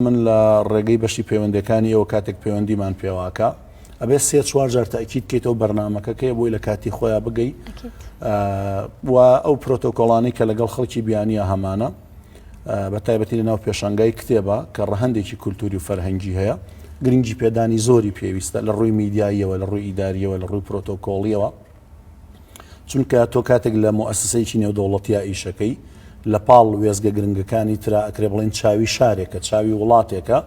من لە ڕێگەی بەشی پەیوەندەکانی ئێوە کاتێک پەیوەندیمان پێواکا ئەبێ سێ چوار جار تاکیید کەیتەوە بەرنمەکە کەێ بۆی لە کاتی خۆیان بگەی و ئەو پرۆتۆکۆڵانی کە لەگەڵ خەڵکی بیانە هەمانە بە تایبەتی لە ناو پێشنگای کتێبە کە ڕەهندێکی کولتوری و فەرهەنگی هەیە گرنگی پێدانی زۆری پێویستە لە ڕووی میدیاییەوە لە ڕووی ئیداریەوە لە ڕووی پرۆتۆکۆڵیەوە چونکە تۆ کاتێک لە موئەسسەیەکی نێودەوڵەتیا ئیشەکەی لە پاڵ وێزگە گرنگەکانی ترا ئەکرێ بڵێن چاوی شارێکە چاوی وڵاتێکە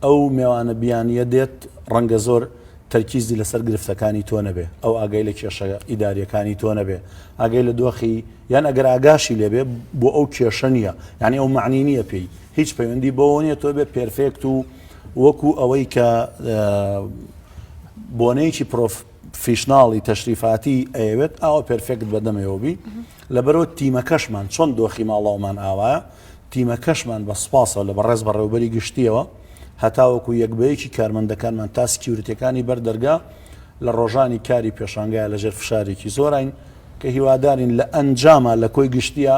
ئەو مێوانە بیانیە دێت ڕەنگە زۆر تەرکیزی لەسەر گرفتەکانی تۆ نەبێ ئەو ئاگای لە کێشە ئیداریەکانی تۆ نەبێ ئاگەی لە دۆخی یان ئەگەر ئاگاشی لێبێ بۆ ئەو کێشە نیە یعنی ئەو معنی نییە پێی هیچ پەیوەندی بەوە نیە تۆ بێ پێرفێکت و وەکو ئەوەی کە بۆنەیەکی پرۆف فیشناڵی تەشریفاتی ئەیەوێت ئاوە پرفێکت بەدەمەوەبی لەبەرەوە تیمەکەشمان چۆن دۆخی ماڵاومان ئاوایە تیمەکەشمان بە سپاسەوە لە بەڕێز بەڕێوبەری گشتیەوە هەتاوەکو یەک بەیەکی کارمەندەکانمان تا سکیورتەکانی بەر دەرگا لە ڕۆژانی کاری پێشانگای لەژێر فشارێکی زۆرین کە هیوادارین لە ئەنجاما لە کۆی گشتیە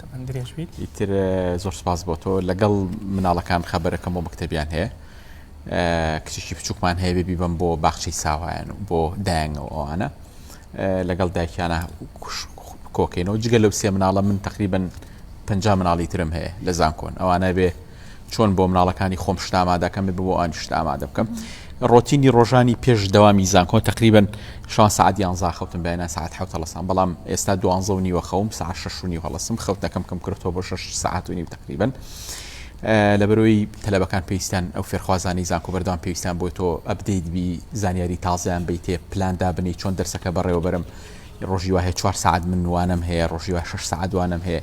تەمەن درێژ بیت. ئیتر زۆر سپاس بۆ تۆ لەگەڵ مناڵەکان خەبەرەکەم بۆ مەکتەبیان هەیە کچێکی بچووکمان هەیە بێبی بم بۆ باخچەی ساوایان و بۆ دایانەوە ئەوانە لەگەڵ دایکیانە کۆکەینەوە جگە لەو سێ مناڵە من تقریبن پ مناڵی ترم هەیە لە زانکۆن ئەوانە بێ چۆن بۆ مناڵەکانی خۆم شت ئامادەکەم بێ بۆ ئانی شت ئامادە بکەم ڕۆتینی ڕۆژانی پێش دەوامی زانکۆ تقریبن شان سعات یانزا خەوتم بەیانە ساعت حوت هەڵسان بەڵام ئێستا دوانزە و نیوە خەوم سا ششنی هەڵسم خەوتەکەم کەم کرۆتۆ بۆ شش ساعت و نیم تقریبن لە بەرۆی تەلەبەکان پێویستان ئەو فێرخوازانی زانکۆ بەردان پێویستان بۆی تۆ ئەبدەیت بی زانیاری تازیان بیتێ پلاندا بنی چۆن دەرسەکە بەڕێوەبرم ڕۆژی وهەیە چوار سعات من وانم هەیە ڕۆژی وە شش سعات وانم هەیە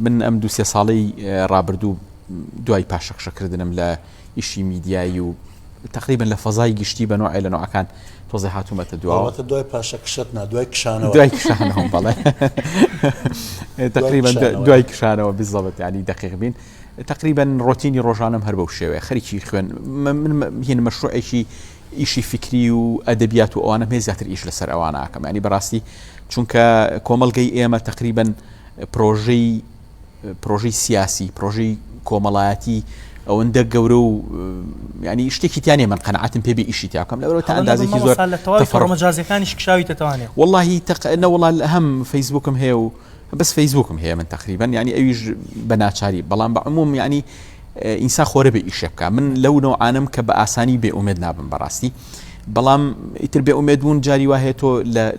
من ئەم دوو سێ ساڵەی ڕابردوو دوای پاشەخشە کردنم لە ئیشی میدیایی و تقریبن لە فەزای گشتی بە نوعێ لە نوعەکان تۆزی هاتوومەتە دواوەتە دوای پاشە کشت نا دوای کشانەوە دوای کشانەوە بەڵێ تقریبا دوای کشانەوە بزەڵت ینی دقیق بین تقریبا ڕۆتینی ڕۆژانم هەر بەو شێوەیە خەریکی خوێن من هین مەشروعێکی ئیشی فکری و ئەدەبیات و ئەوانە هێ زیاتر ئیش لەسەر ئەوانە ئاکەم ینی بەڕاستی چونکە کۆمەلگەی ئێمە تقریبا پرۆژەی پرۆژەی سیاسی پرۆژەی کۆمەڵایەتی ئەوەندە گەورە و ینی شتێکی تیانێ من قەنعاتم پێ ئیشی تاکەم لەەوە تا ئەندازێکی زۆر فەرمەجازەکانیش کشاوی تەتوانێت واللهی تەقەنە وڵات هەم فەیسبوکم هەیە و بەس فەیسبوکم هەیە من تقریبان ینی ئەویش بە ناچاری بەڵام بە عموم ینی ئینسا خۆرە بە ئیشە بکە من لەو نەوانم کە بە ئاسانی بێ ئومێد نابم بەڕاستی بەڵام ئیتر بێ ئومێد بوون جاری وایە تۆ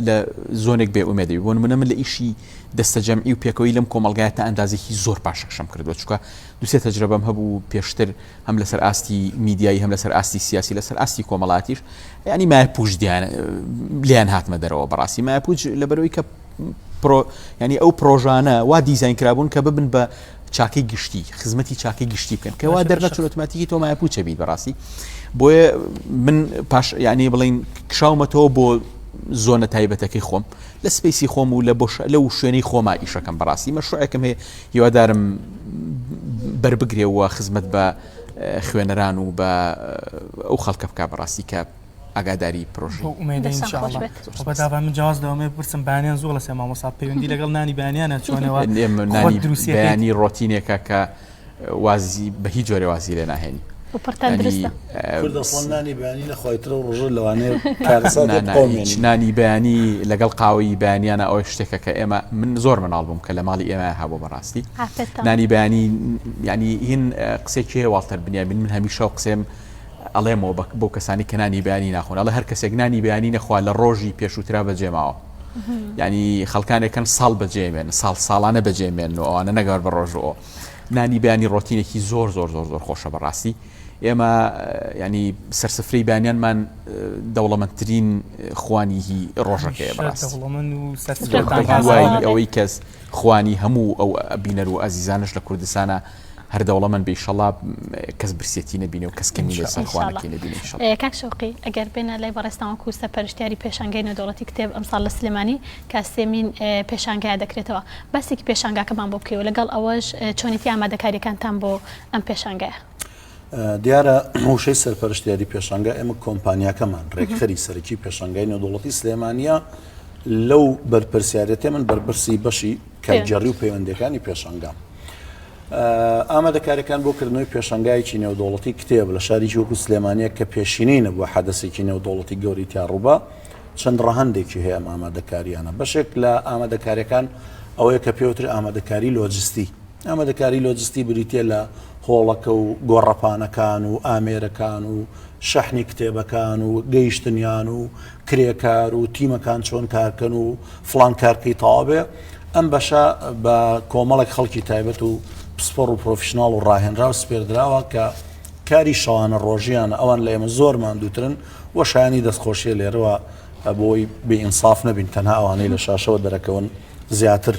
لە زۆنێک بێ ئومێدەوی بۆن منە من لە ئیشی دەستەجەمعی و پێکەوەی لەم کۆمەڵگایە تا ئەندازێکی زۆر پاشەکشەم کردووە چکە دوسێ تەجربەم هەبوو پێشتر هەم لەسەر ئاستی میدیایی هەم لەسەر ئاستی سیاسی لەسەر ئاستی کۆمەڵاتیش ینی مای پوش دیان لیان هاتمە دەرەوە بەڕاستی مای پوچ لەبەرەوەی کە ینی ئەو پرۆژانە وا دیزین کرابوون کە ببن بە چاکەی گشتی خزمەتی چاکەی گشتی بکەن کەوا دەرنەچۆتماتیکی تۆ مای پوچە بیت بەڕاستی بۆیە من پاش یعنی بڵین کشاومەتەوە بۆ زۆنە تایبەتەکەی خۆم لە سپەیسی خۆم و لە بۆشە لەو شوێنەی خۆما ئیشەکەم بەڕاستی مەشروعێکم هەیە هیوادارم بەربگرێ و خزمەت بە خوێنەران و بە ئەو خەڵکە بک بەڕاستی کە ئاگاداری پرۆژ بەداوا من جیاز لەوەمە بپرسم بانیان زۆڵە سێ مامۆسا پەیوەندی لەگەڵ نانی بانیانە چۆنەوە دروستیانی ڕۆتینێکە کە وازی بە هیچ جۆرێ وازی لێ ناهێنی. و پڕتان دروستە. کورد ئەسڵەن نانی بەیانی نەخوای ترە و ڕۆژە لەوانەیە کارەسات لێ بقەومێنی. هیچ نانی بەیانی لەگەڵ قاوەی بەیانیانە ئەوە شتێکە کە ئێمە من زۆر منداڵ بووم کە لە ماڵی ئێمە هەبوو بەڕاستی. ئافرەتان. نانی بەیانی یانی هین قسێکی هەیە واڵتەر بنیامین من هەمیشە و قسێم ئەڵێمەوە بە بۆ کەسانی کە نانی بەیانی ناخۆن ئەڵێ هەر کەسێک نانی بەیانی نەخوا لە ڕۆژی پێشووترا بەجێ ماوە. یانی خەڵکانێکن ساڵ بەجێمێن ساڵ ساڵانە بەجێمێن و ئەوانە نەگەر بە ڕۆژ ئەو. نانی بەیانی ڕۆتینێکی زۆر زۆر زۆر زۆر خۆشە بەڕاستی ئێمە ینی سەرسفرەی بانیانمان دەوڵەمەندترین خوانیهی ڕۆژەکەی ئەوەی کەس خوانی هەموو ئەو بینەر و ئازیزانش لە کوردستانە هەر دەوڵەمەند بێشەڵا کەس برسێتی نبینێ و کەس کەمی لە سەرخوانەکەی نبینی کاک شوقی ئەگەر بێنە لای بەڕێستانەوە کوسە پەرشتیاری پێشنگەی نەدەوڵەتی کتێب ئەمساڵ لە سلێمانی کە سێمین پێشانگایە دەکرێتەوە، باسێکی پێشانگاکەمان بۆ بکەی و لەگەڵ ئەوەش چۆنێتی ئامادەکاریەکانتان بۆ ئەم پێشانگایە؟ دیارە وشەی سەرپەرشت یاری پێشانگا ئێمە کۆمپانیاکەمان ڕێکخەری سەرکی پێشانگای نێودوڵەتی سلێمانە لەو بەرپرسیارەتێ من بەرپرسی بەشی کارگەڕی و پەیوەندەکانی پێشانگام. ئامادەکارەکان بۆ کردنەوەی پێشنگایکی نێودوڵەتی کتێب لە شاریکی وەکو سلێمانە کە پێشینەی نەبووە حەدەسێکی نێودوڵەتی گەوریتیا ڕووبە چەند ڕەهەندێکی هەیە ئەم ئامادەکاریانە بەشێک لە ئامادەکاریەکان ئەوەیە کە پێوتر ئامادەکاری لۆجستی ئامادەکاری لۆجستی بریتە لە هۆڵەکە و گۆڕەپانەکان و ئامێرەکان و شەحنی کتێبەکان و گەیشتنیان و کرێکار و تیمەکان چۆن کارکەن و فلان کارکەی تاوابێ ئەم بەشە بە کۆمەڵێک خەڵکی تایبەت و پسپۆڕ و پرۆفشنناڵ و ڕاهێنرا و سپێردراوە کە کاری شەوانە ڕۆژیان ئەوان لە ئێمە زۆر ماندووترن وە شایەنی دەستخۆشیە لێرەوە بۆی بێ ئینساف نەبین تەنها ئەوانەی لە شاشەوە دەرەکەون زیاتر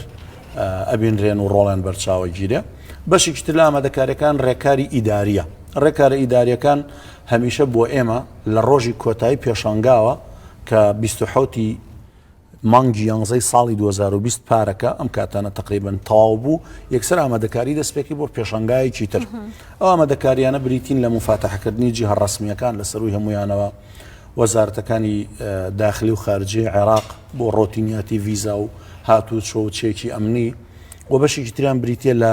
ئەبینرێن و ڕۆڵیان بەرچاوە گیرێ بەشێکی تر لە ئامادەکاریەکان ڕێکاری ئیداریە ڕێکارە ئیداریەکان هەمیشە بۆ ئێمە لە ڕۆژی کۆتایی پێشانگاوە کە 1970 مانگی یانزەی ساڵی دوو هەزار و بیست پارەکە ئەم کاتانە تەقریبەن تەواو بوو یەکسەر ئامادەکاری دەستپێکی بۆ پێشنگایەکی تر ئەو ئامادەکاریانە بریتین لە مفاتەحکردنی جیهە ڕسمیەکان لە سەروی هەمویانەوە وەزارەتەکانی داخلی و خارجی عێراق بۆ ڕۆتینیاتی ویزا و هاتوو چۆ و چێکی ئەمنی و بەشێکی تریان بریتە لە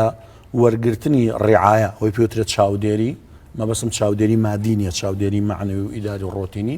وەرگرتنی ڕێعاە ئەوی پێوترێت چاودێری مەبەسم چاودێری مادینیە چاودێری معنەوی و ئیداری و ڕۆتینی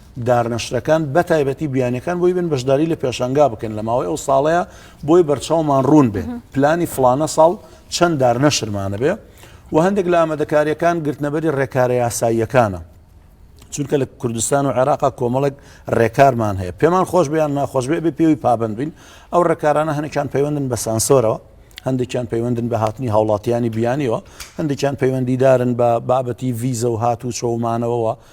دارنەشرەکان بەتایبەتی بیانەکان بۆی بن بەشداری لە پێشنگا بکەن لە ماوەی ئەو ساڵەیە بۆی بەرچاومان ڕوون بێ پلانی فلانە ساڵ چەند دارنەشرمانە بێ و هەندێک لە ئامادەکاریەکان گرتنەبەری ڕێکارە یاساییەکانە چونکە لە کوردستان و عێراقا کۆمەڵک ڕێکارمان هەیە پێمان خۆش بیان ناخۆش بێ بێ پێوی پابند بین ئەو ڕێکارانە هەنێکان پەیوەندن بە سانسۆرەوە هەندێکیان پەیوەندن بە هاتنی هاوڵاتیانی بیانیەوە هەندێکیان پەیوەندیدارن بە بابەتی ڤیزە و هات و چۆمانەوەەوە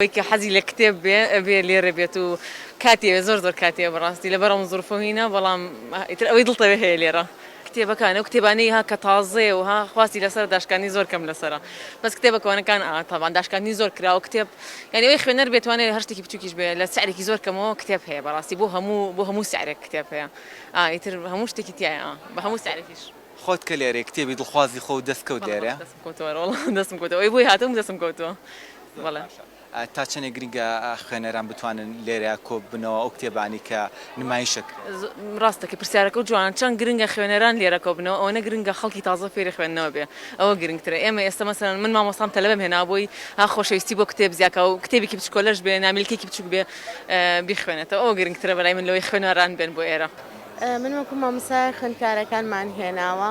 ئەوەی کە حەزی لە کتێب بێ ئەبێ لێرە بێت و کاتی ئەوێ زۆر زۆر کاتی ئەوێ بەڕاستی لەبەر ئەم زروفە و هینە بەڵام ئیتر ئەوەی دڵت ئەوێ هەیە لێرە کتێبەکان ئەو کتێبانەی ها کە تازەیە و ها خواستی لەسەرە داشکاندنی زۆر کەم لەسەرە بەس کتێبە کۆنەکان ئا تەبان داشکاندنی زۆر کراوە کتێب یانی ئەوی خوێنەر بێ توانێ هەر شتێکی بچووکیش بێ لە سعرێکی زۆر کەمەوە کتێب هەیە بەڕاستی بۆ هەموو بۆ هەموو سعرێک کتێب هەیە ئا ئیتر هەموو شتێکی تیایە ئا بە هەموو سعرێکیش. خۆت کە لێرەی کتێبی دڵخوازی خۆو دەست کەوت لێرە؟ بەڵێ بەس دەستم کەوتوە وەڵا دەستم کەوتوە ئەوەی بۆی هاتووم دەستم کەوتوە. باشە تا چەندێک گرنگە خوێنەران بتوانن لێرە کۆببنەوە ئەو کتێبانەی کە نمایش دەکرێن؟ ڕاست دەکەی پرسیارەکەو جوانە چەند گرنگە خوێنەران لێرە کۆببنەوە ئەوەنە گرنگە خەڵکی تازە فێری خوێندنەوە بێ ئەوە گرنگترە ئێمە ئێستا مەسەلەن من مامۆستام تەلەبەم هێناوە بۆی ها خۆشەویستی بۆ کتێب زیاکا و کتێبێکی بچکۆلەش بێ نامیلکەیەکی بچوک بێ بیخوێنێتەوە ئەوە گرنگترە بەلای من لەوەی خوێنەران بێن بۆ ئێرە. من وەکو مامۆستای خوێندکارەکانمان هێناوە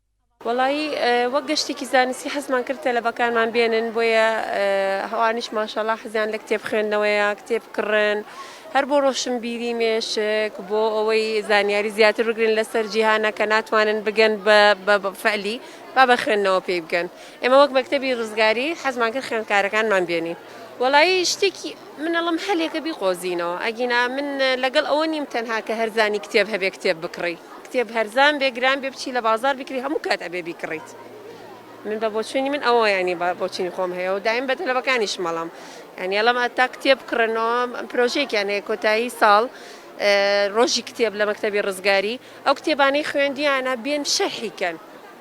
وەڵایی وەک گەشتێکی زانستی حەزمان کرد تەلەبەکانمان بێنن بۆیە هەوانیش ماشەڵا حەزیان لە کتێب خوێندنەوەیە کتێب کڕن هەر بۆ ڕۆشنبیری مێشک بۆ ئەوەی زانیاری زیاتر بگرن لەسەر جیهانە کە ناتوانن بگەن بە فەلی با بە خوێندنەوە پێی بگەن ئێمە وەک مەکتەبی ڕزگاری حەزمان کرد خوێندکارەکانمان بێنین وەڵایی شتێکی من ئەڵێم هەلێکە بیقۆزینەوە ئەگینا من لەگەڵ ئەوە نیم تەنها کە هەرزانی کتێب هەبێ کتێب بکڕی کتێب هەرزان بێ گران بێ بچی لە بازار بیکری هەموو کات ئەبێ بیکڕیت من بە بۆچوونی من ئەوە ینی بە بۆچوونی خۆم هەیە و دایم بە تەلەبەکانیش مەڵم ینی ئەڵم ئەتا کتێب بکڕنەوە پرۆژێکیان هەیە کۆتایی ساڵ ڕۆژی کتێب لە مەکتەبی ڕزگاری ئەو کتێبانەی خوێندیانە بێن شەرحیکەن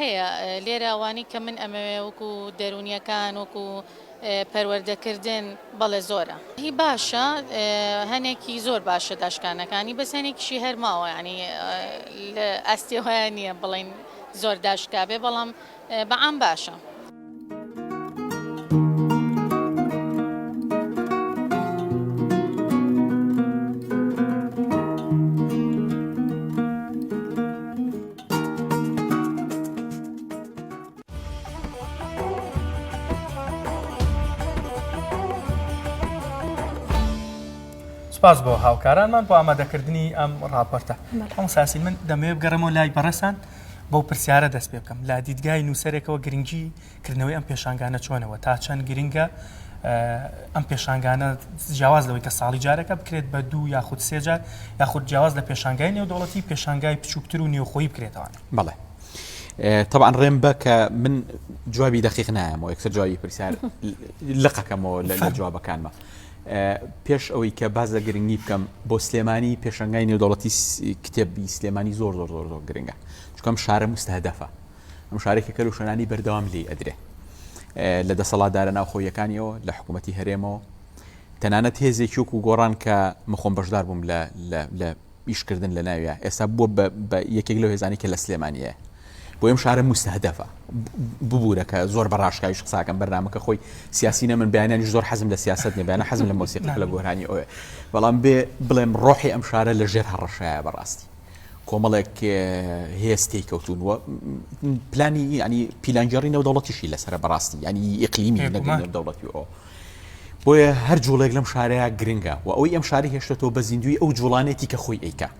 هەیە لێرە ئەوانی کە من ئەمەوێ وەکو دەرونیەکان وەکو پەروەردەکردن بەڵێ زۆرە هی باشە هەنێکی زۆر باشە داشکانەکانی بەس هەنێکیشی هەرماوە ینی ئەستی هۆیان نییە بڵین زۆر داشکابێ بەڵام بە عام باشە. سپاس بۆ هاوکارانمان بۆ ئامادەکردنی ئەم ڕاپۆرتە. مامۆستا یاسین من دەمەوێ بگەڕێمەوە لای بەڕێزتان. بەو پرسیارە دەست پێ بکەم لە دیدگای نووسەرێکەوە گرنگی کردنەوەی ئەم پێشانگانە چۆنەوە تا چەند گرنگە ئەم پێشانگانە جیاواز لەوەی کە ساڵی جارەکە بکرێت بە دوو یاخود سێجار یاخود جیاواز لە پێشانگای نێودوڵەتی پێشانگای بچووکتر و نێوخۆی بکرێتەوە بڵێ. طبعا ڕێم بە کە من جوابی دەقیق نایەمەوە یەکسەر جوابی پرسیار لقەکەمەوە لە جوابەکانمە پێش ئەوەی کە باس لە گرنگی بکەم بۆ سلێمانی پێشەنگای نێودەوڵەتی کتێبی سلێمانی زۆر زۆر زۆر زۆر گرنگە چکەم شارە مستهدەفە ئەم شارێکە کەل و شەنانی بەردەوام لی ئەدرێ لە دەسەڵاتدارە ناوخۆیەکانیەوە لە حکوومەتتی هەرێمەوە تەنانەت هێزێکیوک و گۆڕان کە مخۆم بەشدار بووم لە ئیشکردن لە ناویا ئێستا بووە بە بە یەکێک لەو هێزانی کە لە سلێمانیە بۆ ئەم شارە مستهدەفە ببوورە کە زۆر بە ڕاشکاویش قساکەم بەرنمەکە خۆی سیاسی نەمن بیانانی زۆر حەزم لە سیاست نبیانە حەزم لە مۆسیقی لە گۆرانی ئەوێ بەڵام بێ بڵێم ڕۆحی ئەم شارە لە ژێر هەڕەشایە بەڕاستی کۆمەڵێک هێستی کەوتون و پلانی ینی پیلانگەڕی نەو دەوڵەتیشی لەسرە بەڕاستی ینی ئیقلیمی دەوڵەتی ئەو بۆیە هەر جوڵێک لەم شارەیا گرنگە و ئەوەی ئەم شارەی هێشتۆتەوە بە زیندووی ئەو جوڵانێتی کە خۆی ئەیکا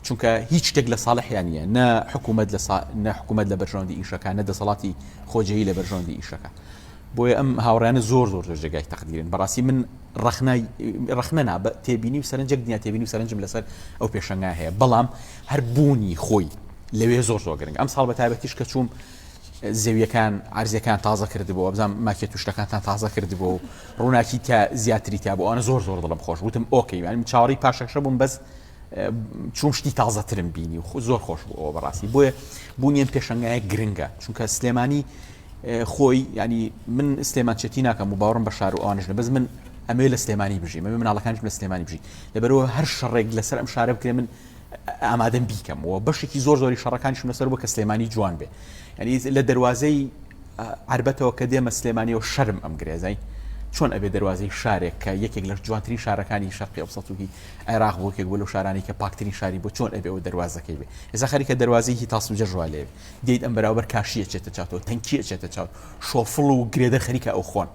چونکە هیچ شتێک لە ساڵحیان نیە نە حکوومەت لە سا... نە حکوومەت لە بەرژەوەندی ئیشەکان نە دەسەڵاتی خۆجێی لە بەرژەوەندی ئیشەکە بۆیە ئەم هاوڕیانە زۆر زۆر زۆر جێگای تەقدیرن بەڕاستی من ڕخنای ڕخنە نا بە تێبینی و سەرنجێک دنیا تێبینی و سەرنجم لەسەر ئەو پێشەنگا هەیە بەڵام هەر بوونی خۆی لەوێ زۆر زۆر گرنگ ئەم ساڵ بە تایبەتیش کە چووم زەویەکان عەرزەکان تازە کردبۆ وابزانم ماکێت و شتەکانتان تازە کردبۆ و ڕووناکی تا زیاتری تا بۆ ئەوانە زۆر زۆر دڵم خۆش وتم ئۆکەی وانم چاوەڕی پاشەکشە بووم بەس چوم شتی تازەترم بینی و زۆر خۆش بوو ئەوە بەڕاستی بۆیە بوونیان پێشنگایە گرنگە چونکە سلێمانی خۆی ینی من سلێمان چێتی ناکەم و باوەڕم بە شار و ئەوانشنە بەس من ئەمێ لە سلێمانی بژی مە مناڵەکانش لە سلێمانی بژی لەبەرەوە هەر شەڕێک لەسەر ئەم شارە بکرێ من ئامادەم بیکەم و بەشێکی زۆر زۆری شەڕەکانی شونە سەر بۆ کە سلێمانی جوان بێ ینی لە دەواازەی عربەتەوە کە دێمە سلێمانی و شەرم ئەم گرێزای چۆن ئەبێ دەواازەی شارێک کە یەکێک لە جوانترین شارەکانی شەرقی ئەو سەتوکی عێراق بۆ کێک بۆ لە شارانی کە پاکترین شاری بۆ چۆن ئەبێ و دەواازەکەی بێ ئێسا خەریکە دەواازەیەکی تاسو جەژوا لێ دیت ئەم بەراوبەر کاشیە چێتە چاوەوە تەنکیە چێتە چاو شۆفڵ و گرێدە خەریکە ئەو خۆن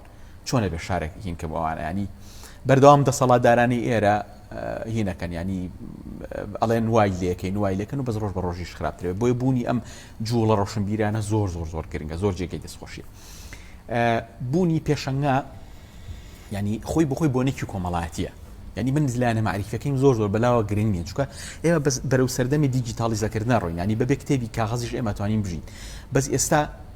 چۆن ئەبێ شارێک هین کەم ئەوانە ینی بەردەوام دەسەڵاتدارانی ئێرە هینەکەن ینی ئەڵێن وای لەکەین وای لەکەن و بەس ڕۆژ بە ڕۆژیش خراپترێت بۆی بوونی ئەم جوڵە ڕۆشنبیرانە زۆر زۆر زۆر گرنگە زۆر جێگەی دەستخۆشی بوونی پێشەنگا ینی خۆی بخۆی بۆ نەکی کۆمەڵاتیە ینی من زلانە معریفەکەیم زۆر زۆر بەلاوە گرنگ نیە چکە ئێمە بەس بەرەو سەردەمی دیجیتالیزەکردە ڕۆینانی بەبێ کتێبی کاغەزیش ئێمەتوانین بژین بەس ئێستا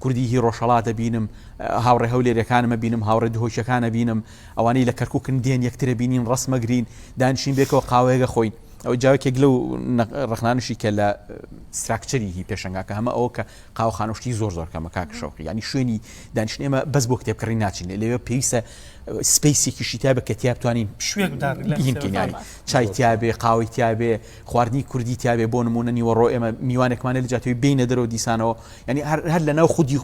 کوردی هی ڕۆژهەڵات ئەبینم، هاوڕێ هەولێرێکانم ئەبینم، هاوڕێ دهۆکیەکان ئەبینم، ئەوانەی لە کەرکوکن دێن یەکتر ئەبینین ڕەسم ئەگرین، دانیشین بەیەکەوە قاوەیەک ئەخۆین. ئەوە جا یەکێک لەو ڕەخنانەشی کە لە ستراکچەری هی پێشەنگاکە هەمە ئەوە کە قاوەخانە و شتی زۆر زۆر کەمە کاک شەوقی، یانی شوێنی دانیشتن ئێمە بەس بۆ کتێب کڕین ناچین، لەوێ پێویستە سپەیسێکیشی تیا بێ کە تیا بتوانین شوێنک بدات ریلاکس بین یانی چای تیا بێ، قاوەی تیا بێ، خواردنی کوردی تیا بێ، بۆ نموونە نیوەڕۆ ئێمە میوانێکمان هەیە لە جاتەوەی بێینە دەرەوە دیسانەوە یانی هەر هەر لەناو خودی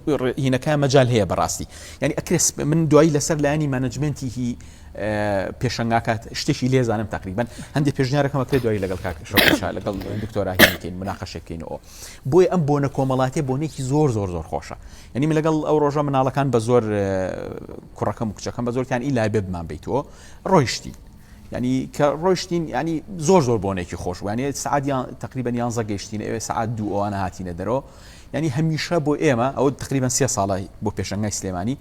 هینەکەیان مەجال هەیە بەڕاستی یانی ئەکرێ من دوایی لەسەر لایەنی مانجمنتی هی پێشنگاکات شتێکی لێزانم تقریبن هەندی پێشنیارەکەمە کرێ دوایی لەگەڵ کاک شا لەگەڵ دکتۆراهینکەین مناقەشەکەینەوە بۆی ئەم بۆنە کۆمەڵاتی بۆنێکی زۆر زۆر زۆر خۆشە یعنی من لەگەڵ ئەو ڕۆژە مناڵەکان بە زۆر کوڕەکەم و کچەکەم بە زۆرتان ئی لای ببمان بیتەوە ڕۆیشتی یانی کە ڕۆشتین ینی زۆر زۆر بۆنێکی خۆش وانێ سعادیان تقریبان یانزە گەشتین ئێوێ سعات دوو ئەوانە هاتیینە دەرەوە ینی هەمیشە بۆ ئێمە ئەو تقریبان سێ ساڵی بۆ پێشنگای سلێمانی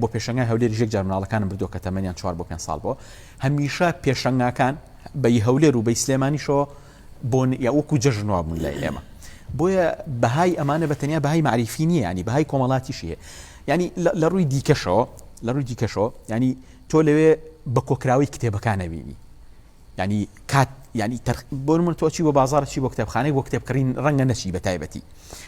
بۆ پێشنگای هەولێر ژێک جار مناڵەکانم بردو کە تەمەنیان چوار بۆ پێ ساڵ بۆ هەمیشە پێشنگاکان بەی هەولێر و بەی سلێمانیشەوە بۆن یا وەکو جەژنوا بوون لای ئێمە بۆیە بەهای ئەمانە بە تەنیا بەهای معریفی نییە ینی بەهای کۆمەڵاتیشیە ینی لە ڕووی دیکەشەوە لە ڕووی دیکەشەوە ینی تۆ لەوێ بە کۆکراوەی کتێبەکان ئەبینی ینی کات ینی تەر بۆن من تۆچی بۆ بازار چی بۆ کتێبخانەی بۆ کتێبکردین ڕەنگە نەچی بە تایبەتی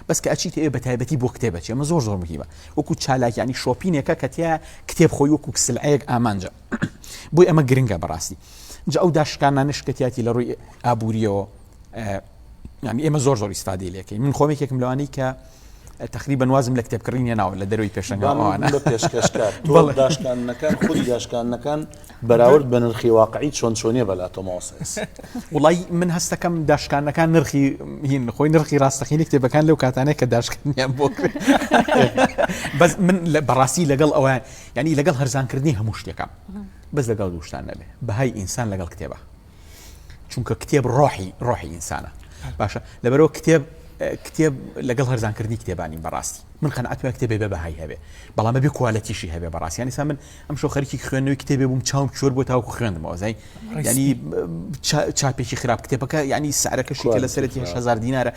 بەس کە ئەچیت ئێ بە تایبەتی بۆ کتێبە چێمە زۆر زۆر مهمە وەکو چالاک ینی شۆپینێکە کەتیە کتێب خۆی وەکو کسلعەیەک ئامانجە بۆی ئەمە گرنگە بەڕاستی جا ئەو داشکانانش کەتیاتی لە ڕووی ئابووریەوە یانی ئێمە زۆر زۆر ئیسفادی لەکەین من خۆم یەکێکم لەوانەی کە تقریبان وازم لە کتێب کڕینە ناوە لە دەروی پێشەنگوانە پێشکەشکار داشکانەکان خودی داشکانەکان بەراورد بە نرخی واقعی چۆن چۆنیە بەلا تۆماسس وڵی من هەستەکەم داشکانەکان نرخی هین خۆی نرخی ڕاستەخینی کتێبەکان لەو کاتانێک کە داشکانیان بۆ بەس من لە بەڕاستی لەگەڵ ئەویان ینی لەگەڵ هەرزانکردنی هەموو شتێکم بەس لەگەڵ دووشتان نەبێ بەهای ئینسان لەگەڵ کتێبە چونکە کتێب ڕۆحی ڕۆحی ئینسانە باشە لەبەرەوە کتێب کتێب لەگەڵ هەرزانکردنی کتێبانی بەڕاستی من قەنعات پێ کتێبێ بە بەهای هەبێ بەڵامە بێ کوالەتیشی هەبێ بەڕاستیانی سا من ئەم شو خەرکی خوێندنەوەی کتێبێ بووم چاوم چۆر بۆ تاوکو خوێندمەوە زای ینی چاپێکی خراپ کتێبەکە ینی سعرەکەشی کە لە سەرەتی هزار دینارە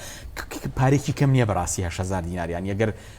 پارێکی کەم نییە بەڕاستی هزار دیناریان یەگەر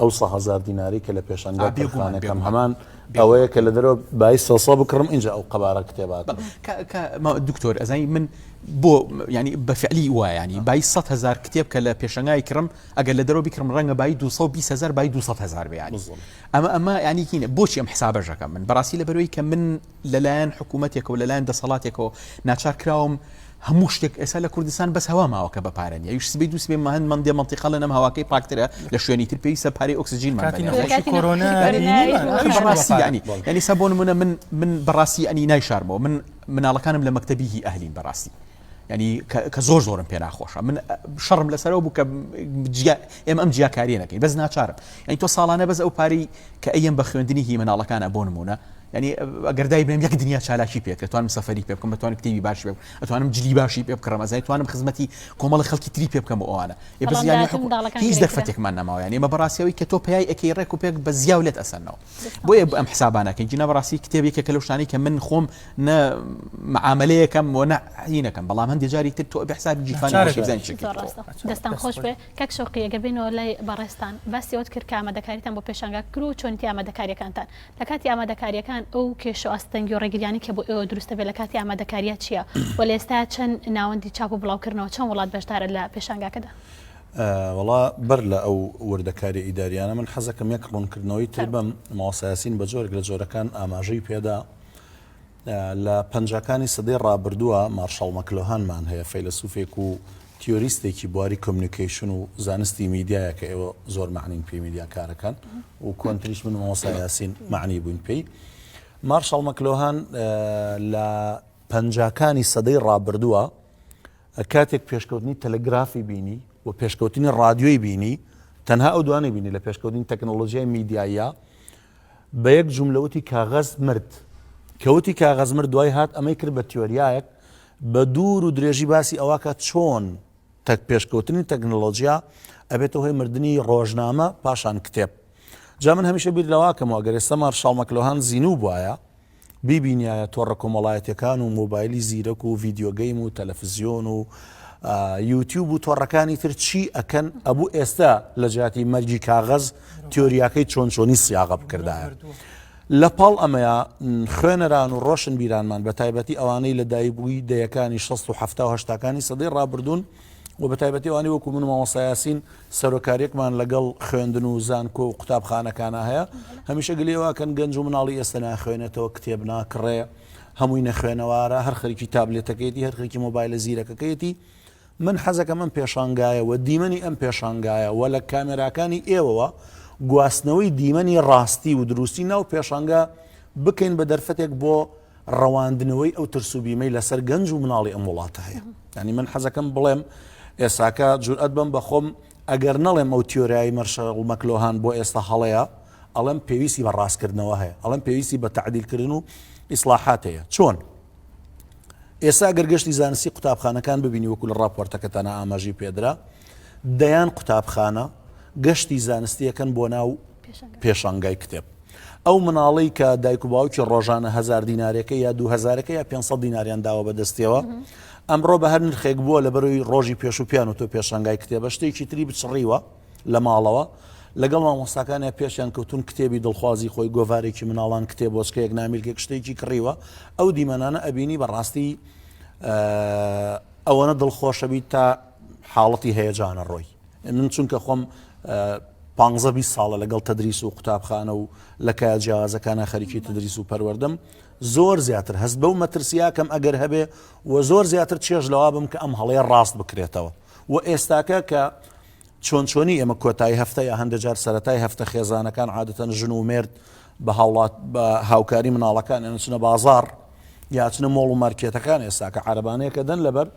ئەو سە هەزار دیناری کە لە پێشەنگا آ، بێگومان، تەرخانەکەم بێگومان. هەمان بێگومان. ئەوەیە کە لە دەرەوە بای سۆسۆ بکڕم ئینجا ئەو قەبارە کتێبا کڕم. کە کە ما دکتۆر ئەزانی من بۆ ینی بە فعلی وایە ینی بای سەد هەزار کتێب کە لە پێشەنگای کڕم ئەگەر لە دەرەوە بیکڕم ڕەنگە بای دوو سەد و بیست هەزار بای دوو سەد هەزار بێ ینی بزڵ. ئەمە ئەمە ینی کینە بۆچی ئەم حسابەش ئەکەم من بەڕاستی لەبەرەوەی کە من لەلایەن حکومەتێکەوە لەلایەن دەسەڵاتێکەوە ناچار کراوم هەموو شتێک ئێسا لە کوردستان بەس هەوا ماوەکە بە پارە نیە یش سبەی دوو سبەی ماهند مندێ منتیقا لەم هەواکەی پاکترە لە شوێنی تر پێویستە پارەی ئۆکسجین ڕاستیانی ینی سە بۆ نمونە من من بەڕاستی ئەنی نایشارمەوە من مناڵەکانم لە مەکتتەبی هی ئەهلین بەڕاستی ینی کە زۆر زۆرم پێ ناخۆشە من شەڕم لەسەرەوە بوو کە ئێمە ئەم جیاکاریە نەکەی بەس ناچارم ئەین تۆ ساڵانە بەس ئەو پارەی کە ئەم بە خوێندنی هی مناڵەکانە بۆ نمونە یانی ئەگەر دایبنێم یەک دنیا چالاکی پێ کرد توانم سەفری پێ بکەم بەتوانم کتێبی باش پێ ئەتوانم جلی باشی پێ بکڕم ئەزای توانم خزمەتی کۆمەڵ خەڵکی تری پێ بکەم و ئەوانە هیچ دەرفەتێکمان نەماوە یانی مە بەڕاستەوەی کە تۆ پیای ئەکی ڕێک و پێک بە زیاو لێت ئەسەنەوە بۆیە ئەم حسابانەکەی جنە بەڕاستی کتێبێکە کە لەشتانی کە من خۆم نە معاملەیەکەم و نەینەکەم بەڵام هەندێک جاری تر تۆ بەحساب جیفانستان خۆش بێ کەک شوقیەگە بینەوە لای بەڕێستان باسی ئەوت کرد کامە دەکاریتان بۆ پێشانگا کرو چۆنیتی ئامادەکاریەکانتان لە کاتی ئامادەکارییەکان ئەو کێشە و ئاستەنگی و ڕێگرییانەی کە بۆ ئێوە دروست دەبێت لە کاتی ئامادەکارییە چییە و لە ئێستا چەند ناوەندی چاپ و بڵاوکردنەوە، چەند وڵات بەشدارە لە پێشانگاکەدا؟ وەڵا بەر لە ئەو وردەکارییە ئیدارییانە من حەزەکەم یەک ڕوونکردنەوەی تر بەم، مامۆستا یاسین بە جۆرێک لە جۆرەکان ئاماژەی پێدا، لە پەنجاکانی سەدەی ڕابردووە مارشاڵ مەکلۆهانمان هەیە، فەیلەسوفێک و تیۆریستێکی بواری کۆمیونیکەیشن و زانستی میدیایە کە ئێوە زۆر مەعنین پێی میدیاکارەکان و کۆنتریش من مامۆستا یاسین مەعنی بووین پێی. مارشاڵ مەکلۆهان لە پەنجاکانی سەدەی ڕابردووە کاتێک پێشکەوتنی تەلەگرافی بینی و پێشکەوتنی ڕادیۆی بینی تەنها ئەو دوانەی بینی لە پێشکەوتنی تەکنۆلۆژیای میدیاییە بە یەک جوملە وتی کاغەز مرد. کە وتی کاغەز مرد دوای هات ئەمەی کرد بە تیۆریایەک بە دوور و درێژی باسی ئەوە کە چۆن تەک پێشکەوتنی تەکنەلۆجیا ئەبێتە هۆی مردنی ڕۆژنامە پاشان کتێب. جا من هەمیشە بیر لەوە ئەکەمەوە ئەگەر ئێستا مارشاڵ مەکلۆهان زینوو بوایە، بیبینیایە تۆڕە کۆمەڵایەتیەکان و مۆبایلی زیرەک و ڤیدیۆ گەیم و تەلەفزیۆن و یوتیوب و تۆڕەکانی تر چی ئەکەن ئەبوو ئێستا لە جیاتی مەرگی کاغەز تیۆریاکەی چۆن چۆنی سیاغە بکردایە. لە پاڵ ئەمەیە خوێنەران و ڕۆشن بیرانمان بە تایبەتی ئەوانەی لە دایبووی دەیەکانی 16 و هەفتاهشتاکانی سەدەی ڕابردوون، و بە تایبەتی ئەوانەی وەکو من و مامۆستا یاسین سەرۆکاریەکمان لەگەڵ خوێندن و زانکۆ و قوتابخانەکانە هەیە هەمیشە گلەی واکەن گەنج و مناڵی ئێستا ناخوێنێتەوە کتێب ناکڕێ هەمووی نەخوێنەوارە هەر خەریکی تابلێتەکەیەتی هەر خەریکی مۆبایلە زیرەکەکەیەتی من حەزەکەم ئەم پێشانگایە و دیمەنی ئەم پێشانگایە و لە کامێراکانی ئێوەوە گواستنەوەی دیمەنی ڕاستی و دروستی ناو پێشانگا بکەین بە دەرفەتێک بۆ ڕەواندنەوەی ئەو ترس و بیمەی لەسەر گەنج و مناڵی ئەم وڵاتە هەیە ینی من حەزەکەم بڵێم ئێساکە جورئەت بم بەخۆم ئەگەر نەڵێم ئەو تیۆرایی مەرشەڵ مەکلۆهان بۆ ئێستا هەڵەیە ئەڵم پێویستی بە ڕاستکردنەوە هەیە ئەڵم پێویستی بە تعدیلکردن و ئیسلاحات هەیە چۆن ئێستا گەرگەشتی زانستی قوتابخانەکان ببینی وەکو لە ڕاپۆرتەکەتانە ئاماژی پێدرا دەیان قوتابخانە گەشتی زانستی ئەکەن بۆ ناو پێشانگای کتێب ئەو مناڵی کە دایک و باوکی ڕۆژانە هزار دینارەکە یا دو هزارەکە یا 500 دیناریان داوە بەدەستەوە ئەمڕۆ بە هەر نرخێک بووە لە بەروی ڕۆژی پێش و پیان و تۆ پێشانگای کتێبە شتێکی تری بچڕیوە لە ماڵەوە لەگەڵ مامۆستاکانە پێشیان کەوتون کتێبی دڵخوازی خۆی گۆڤارێکی مناڵان کتێب بۆچکەیەک نامیلکێک شتێکی کڕیوە ئەو دیمەنانە ئەبینی بەڕاستی ئەوەنە دڵخۆشەبیت تا حاڵەتی هەیەجانە ڕۆی من چونکە خۆم پانزە بیست ساڵە لەگەڵ تەدریس و قوتابخانە و لە کایە جیازەکانە خەریکی تدریس و پەروەردەم زۆر زیاتر هەست بەو مەترسیاکەم ئەگەر هەبێ و زۆر زیاتر چێژ لەوا بم کە ئەم هەڵەیە ڕاست بکرێتەوە و ئێستاکە کە چۆن چۆنی ئێمە کۆتایی هەفتە یا هەندێک جار سەتای هەفتە خێزانەکان عادەتەن ژن و مرد بە هاوڵات بە هاوکاری مناڵەکان ئەنچنە بازار یاچنە مۆڵ و مارکێتەکان ئێستا کە عربانەیەکە دەن لەبەر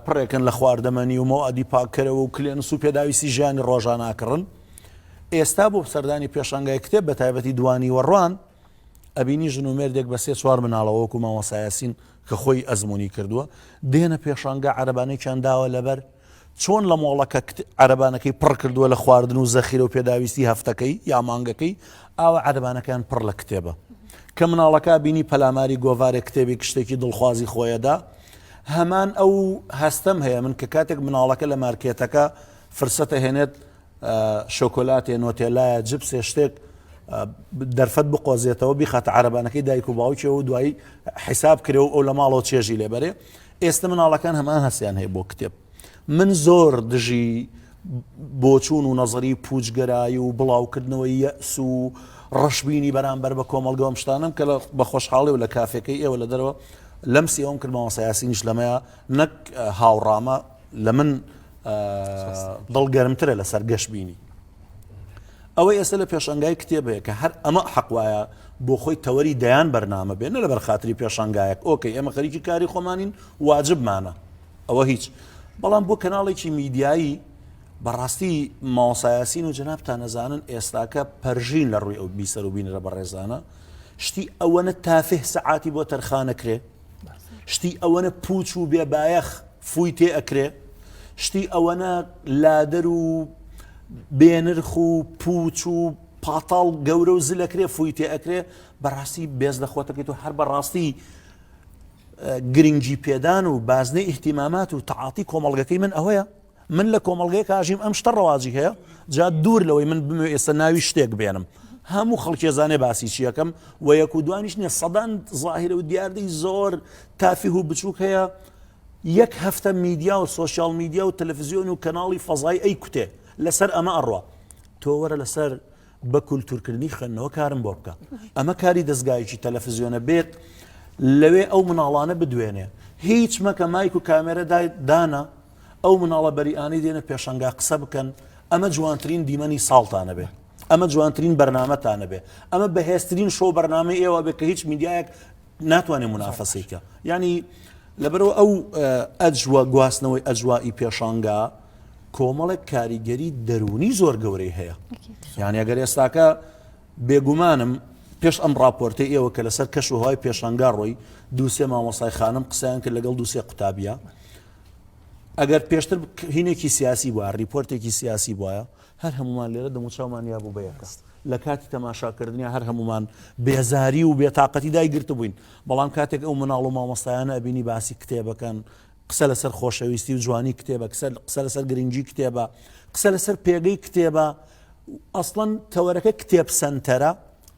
پڕێکن لە خواردەمەنی و مەوادی پاککەرەوە و کلێنس و پێداویستی ژیانی ڕۆژاناکڕن ئێستا بۆ سەردانی پێشانگای کتێب بە تایبەتی دوانیوەڕوان ئەبینی ژن و مێردێک بە سێ چوار مناڵەوە وەکو مامۆسایاسین کە خۆی ئەزمموی کردووە دێنە پێشانگا عربانێکیان داوە لەبەر چۆن لە مۆڵەکە عربانەکەی پڕ کردووە لە خواردن و زەخیرە و پێداویستی هەفتەکەی یا مانگەکەی ئاوە عربانەکەیان پڕ لە کتێبە کە مناڵەکە بینی پەلاماری گۆڤارێک کتێبی کشتێکی دڵخوازی خۆیەدا هەمان ئەو هەستەم هەیە من کە کاتێک مناڵەکە لە مارکێتەکە فرسەتە هێنێت شۆکۆلاتێ نۆتێلایە جبسێ شتێک دەرفەت بقۆزێتەوە بیخاتە عربانەکەی دایک و باوکێ و دوایی حیساب کرێ و ئەو لە ماڵەوە چێژی لێبەرێ ئێستا مناڵەکان هەمان هەستیان هەیە بۆ کتێب من زۆر دژی بۆچوون و نەزری پوچگەرایی و بڵاوکردنەوەی یەس و ڕەشببینی بەرامبەر بە کۆمەلگەم شتانم کە بە خۆشحاڵی و لە کافەکەی ئێوە لە دەرەوە لەم سێوم کرد مامۆستا یاسینیش لەمەیە نەک هاوڕامە لە من دڵ گەرمترە لەسەر گەشت بینی ئەوە ئێستا لە پێشنگای کتێبەیە کە هەر ئەمە حەقواە بۆ خۆی تەوەری دەیان بەرنامە بێن لە بەرخاتری پێشنگایەک ئۆکەی ئێمە خەریکی کاری خۆمانین واجبمانە ئەوە هیچ بەڵام بۆ کەناڵێکی میدیایی بەڕاستی ماوەسا یاسین و جەنابتان نەزانن ئێستاکە پەرژین لە ڕووی ئەو بیسەر و بینرە بەڕێزانە شتی ئەوەنە تافه سەعاتی بۆ تەرخانەکرێ شتی ئەوەنە پوچ و بێبایەخ فووی تێ ئەکرێ شتی ئەوەنە لادەر و بێنرخ و پوچ و پاتاڵ گەورە و زلەکرێ فووی تێ ئەکرێ بەڕاستی بێز لە خۆتەکەیت و هەر بەڕاستی گرنگی پێدان و بازنەی ئیحتیمامات و تەعاتی کۆمەڵگەکەی من ئەوەیە من لە کۆمەڵگەیەک ئاژیم ئەم شتە ڕەواجی هەیە جا دوور لەوەی من بمێ ئێستا ناوی شتێک بێنم هەموو خەڵکێزانێ باسی چیەکەم و یەک و دوانیش نیە سەدان ظاهرە و دیاردەی زۆر تافیه و بچووک هەیە یەک هەفتە میدیا و سوسیال میدیا و تەلەفزیۆن و کەناڵی فەزای ئەی کوتێ لەسەر ئەمە ئەڕوا تۆ وەرە لەسەر بە کولتورکردنی خوێندنەوە کارم بۆ بکە ئەمە کاری دەستگایکی تەلەفزیۆنە بێت لەوێ ئەو مناڵانە بدوێنێ هیچ مەکە مایک و کامێرە دایت دانا ئەو مناڵە بەریانەی دێنە پێشنگا قسە بکەن ئەمە جوانترین دیمەنی ساڵتانە بێ ئەمە جوانترین بەرنمەتانە بێ ئەمە بەهێسترین شۆ بەرنامە ئێوە بێ کە هیچ میدیایەک ناتوانێت منافەسیکە ینی لەبەرەوە ئەو ئەجووە گواستنەوەی ئەجوایی پێشانگا کۆمەڵێک کاریگەری دەرونی زۆر گەورەی هەیە یانیگەر ئێستاکە بێگومانم پێش ئەم راپۆرتی ئێوە کە لەسەر کەش وهای پێشانگا ڕۆی دووسێ مامۆسای خانم قسەیان کرد لەگەڵ دووسێ قوتابە ئەگەر پێشتر هینێکی سیاسی بووە ریپۆرتێکی سیاسی بواە هەر هەمومان لێرە دەموچاومان یابوو بەیەکەس لە کاتی تەماشاکردنی هەر هەمومان بێزاری و بێتاقەتی دایگررت بووین بەڵام کاتێک ئەو مناڵ و مامۆستایانە ئەبینی باسی کتێبەکەن قسە لەسەر خۆشەویستی و جوانی کتێبە قسە لەسەر گرنگی کتێبە قسە لەسەر پێگەی کتێبە ئەسڵەن تەوەرەکە کتێب سنتەرە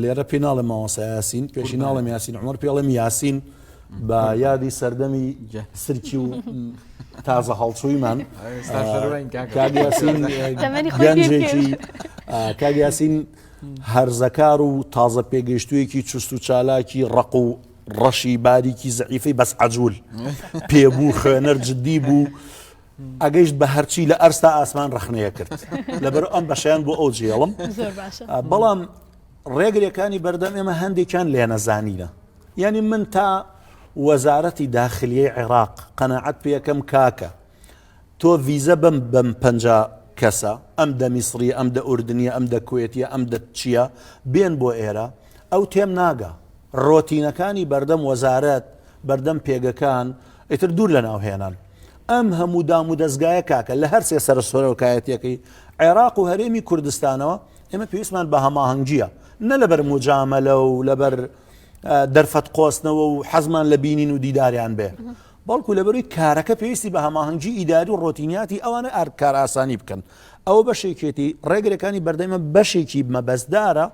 لێرە پێی ناڵێم مامۆسا یاسین پێشی ناڵێم یاسین عمر پێڵێم یاسین بە یادی سەردەمی سرکی و تازە هەڵچوویمان گەنجێکی کاگیاسین هەرزەکار و تازە پێگەشتوویەکی چست و چالاکی ڕق و ڕەشی باریکی زعیفی بەس عجول پێبوو خوێنەر جددی بوو ئەگەیشت بە هەرچی لە ئەرستا ئاسمان ڕخنەیە کرد لەبەر ئەم بەشیان بۆ ئەو جێڵم بەڵام ڕێگرەکانی بەردەم ئێمە هەندێکیان لێ نەزانینە یعنی من تا وەزارەتی داخلیەی عێراق قەنەعەت پێەکەم کاکە تۆ ڤیزە بم بم پ کەسە ئەم دە میسری ئەم دە ئوردنیە ئەم دە کوێتیە ئەم دە چییە بێن بۆ ئێرە ئەو تێم ناگا رۆتینەکانی بەردەم وەزارەت بەردەم پێگەکان ئیتر دوور لە ناو هێنان ئەم هەموو دام و دەستگایە کاکە لە هەرسێ سەر سۆرۆکایەتەکەی عێراق و هەرێمی کوردستانەوە ئێمە پێویستمان بە هەماهەنگگیە نە لەبەر مجامەلە و لەبەر دەرفەت قۆستنەوە و حەزمان لە بینین و دیداریان بێ بەڵکو لەبەروی کارەکە پێویستی بە هەماهەنگی ئیداری و ڕۆتینیاتی ئەوانە ئارد کارئاسانی بکەن ئەوە بەشێکێتی ڕێگرەکانی بەردەمە بەشێکی مەبەستدارە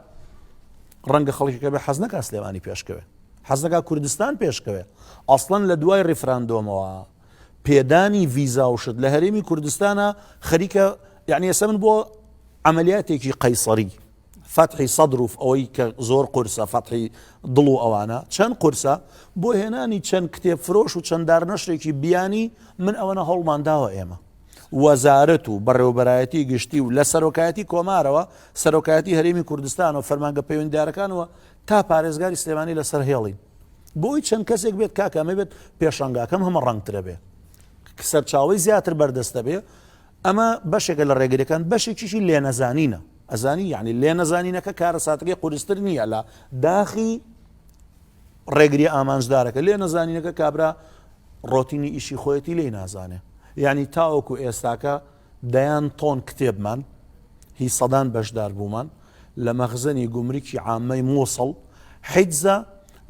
ڕەنگە خەڵکەکە بە حەزنەکە سلێمانی پێشکەوێ حەزەکە کوردستان پێشکەوێ ئەسڵەن لە دوای ڕیفراندۆمەوە پێدانی ڤیزا و شت لە هەرێمی کوردستانە خەریکە یعنی ئێسە من بۆ عملیاتێکی قەیسەری فەتحی سەدر و ئەوەی کە زۆر قورسە فەتحی دڵ و ئەوانە چەند قورسە بۆ هێنانی چەند کتێب فرۆش و چەنددار نەشرێکی بیانی من ئەوەنە هەوڵمان داوە ئێمە وەزارەت و بەڕێوبەرایەتی گشتی و لە سەرۆکایەتی کۆمارەوە سەرۆکایەتی هەرێمی کوردستان و فەرمانگە پەیوەنددارەکانەوە تا پارێزگاری سلێمانی لەسەر هێڵین بۆی چەند کەسێک بێت کاکەمە بێت پێشنگاکەم هەمە ڕەنگترە بێ سەرچاوی زیاتر بەردەستە بێ ئەمە بەشێکە لە ڕێگریەکان، بەشێکیشی لێنەزانینە، ئەزانی یەعنی لێنەزانینەکە کارەساتەکەی قورستر نییە لە داخی ڕێگریە ئامانجدارەکە، لێنەزانینەکە کابرا ڕۆتینی ئیشی خۆیەتی لێی نازانێ، یعنی تاوەکو ئێستاکە دەیان تۆن کتێبمان هی سەدان بەشدار بوومان لە مەخزەنی گومرکی عامەی مووسڵ حیجزە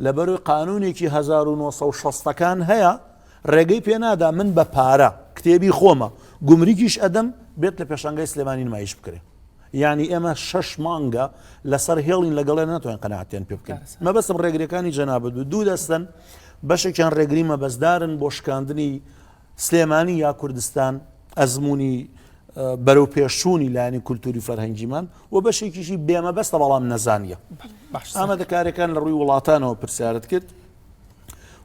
لەبەروی قانونێکی 1960ەکان هەیە ڕێگەی پێ نادا من بە پارە کتێبی خۆمە گومرگیش ئەدەم بێت لە پێشانگای سلێمانی نمایش بکرێ یعنی ئێمە شەش مانگە لەسەر هێڵین لەگەڵێ ناتوانین قەنەعاتیان پێ بکەین مەبەستم ڕێگرەکانی جەنابەت بوو دوو دەستن بەشێکیان ڕێگری مەبەستدارن بۆ شکاندنی سلێمانی یا کوردستان ئەزمموی بەرەو پێشچوونی لایانی کولتوری فەرهەنگیمان و بەشێکیشی بێمەبەستە بەڵام نەزانیە ئامادەکارەکان لە ڕووی وڵاتانەوە پرسیارت کرد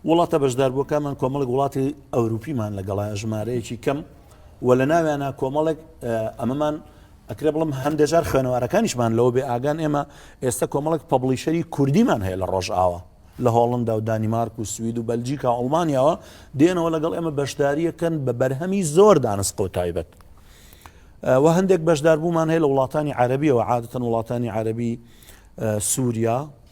وڵاتە بەشداربووەکانمان کۆمەڵک وڵاتی ئەوروپیمان لەگەڵایە ژمارەیەکی کەم و لە ناویانە کۆمەڵێک ئەمەمان ئەکرێ بڵم هەندێجار خوێنەوارەکانیشمان لەوە بێ ئاگان ئێمە ئێستا کۆمەڵک پبلیشەری کوردیمان هەیە لە ڕۆژئاوە لە هۆڵندا و دانیمارک و سوید و بەلجیکا ئەڵمانیاوە دێنەوە لەگەڵ ئێمە بەشداریەکەن بە بەرهەمی زۆر دانسقە و تایبەت و هەندێک بەشداربوومان هەیە لە وڵاتانی عربیەوە عادەتەن وڵاتانی عربی سووریا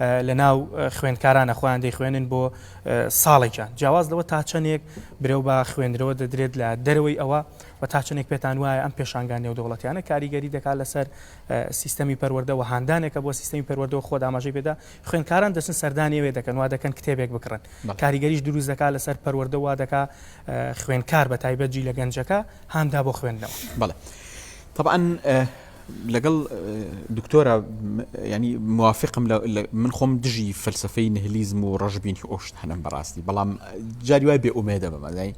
لەناو خوێندکارانە خۆیان دەیخوێنن بۆ ساڵێکیان جیاواز لەوە تا چەندێک برەو بە خوێندرەوە دەدرێت لە دەرەوەی ئەوە و تا چەندێک پێتان وایە ئەم پێشانگان نێودەوڵەتیانە کاریگەری دەکات لەسەر سیستەمی پەروەردەوە هاندانێکە بۆ سیستەمی پەروەردەوە خۆ داماژەی پێدا خوێندکاران دەچن سەردانیەوێ دەکەن وا دەکەن کتێبێک بکڕن کاریگەریش دروست دەکات لەسەر پەروەردەوە دەکا خوێندکار بە تایبەت جی لە گەنجەکە هاندا بۆ خوێندنەوە بڵێ طبعا لەگەڵ دکتۆرە ینی موافقم من خۆم دژی فەلسفەی نهلیزم و ڕژبینی ئۆشتانم بەڕاستی بەڵام جاری وای بێ ئومێدە بەمەزای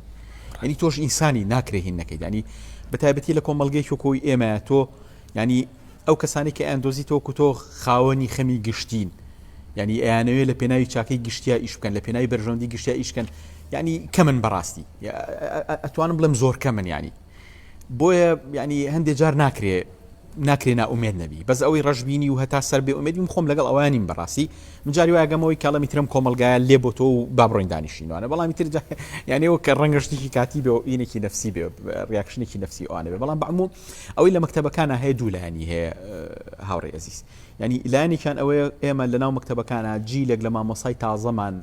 ینی تۆش ئینسانی ناکرێهین نەکەیت ینی بە تایبەتی لە کۆمەلگەی کۆی ئێمە تۆ ینی ئەو کەسانی کە ئەندۆزی تۆ کوتۆ خاوەنی خەمی گشتین ینی ئەیانەوێت لە پێناوی چاکەی گشتیا ئیش بکەن لە پێناوی بەرژەندی گشتیا ئیشکەن ینی کە من بەڕاستی ئەتوانم بڵێم زۆر کە من ینی بۆیە یعنی هەندێک جار ناکرێ ناکرێ ناومێت نەبی بەس ئەوەی ڕژبینی و هەتا سەر بێ ئومێدیم خۆم لەگەڵ ئەوانیم بەڕاستی مجاری واگەمەوەی کاڵەمی ترم کۆمەلگایە لێ بۆ تۆ و بابڕۆین دانیشتینوانە بەڵامی تر یانەوە کە ڕەنگەشتێکی کاتی بێ ئینێکی نفسی بێ ڕاکشنێکی نفسی ئەوانە بێ بەڵام بەموو ئەوەی لە مەکتتەبەکانە هەیە دوو لایانی هەیە هاوڕێ ئەزیز ینی لایەنێکیان ئەوەیە ئێمە لە ناو مەکتتەبەکانە جیلێک لە مامۆسای تازەمان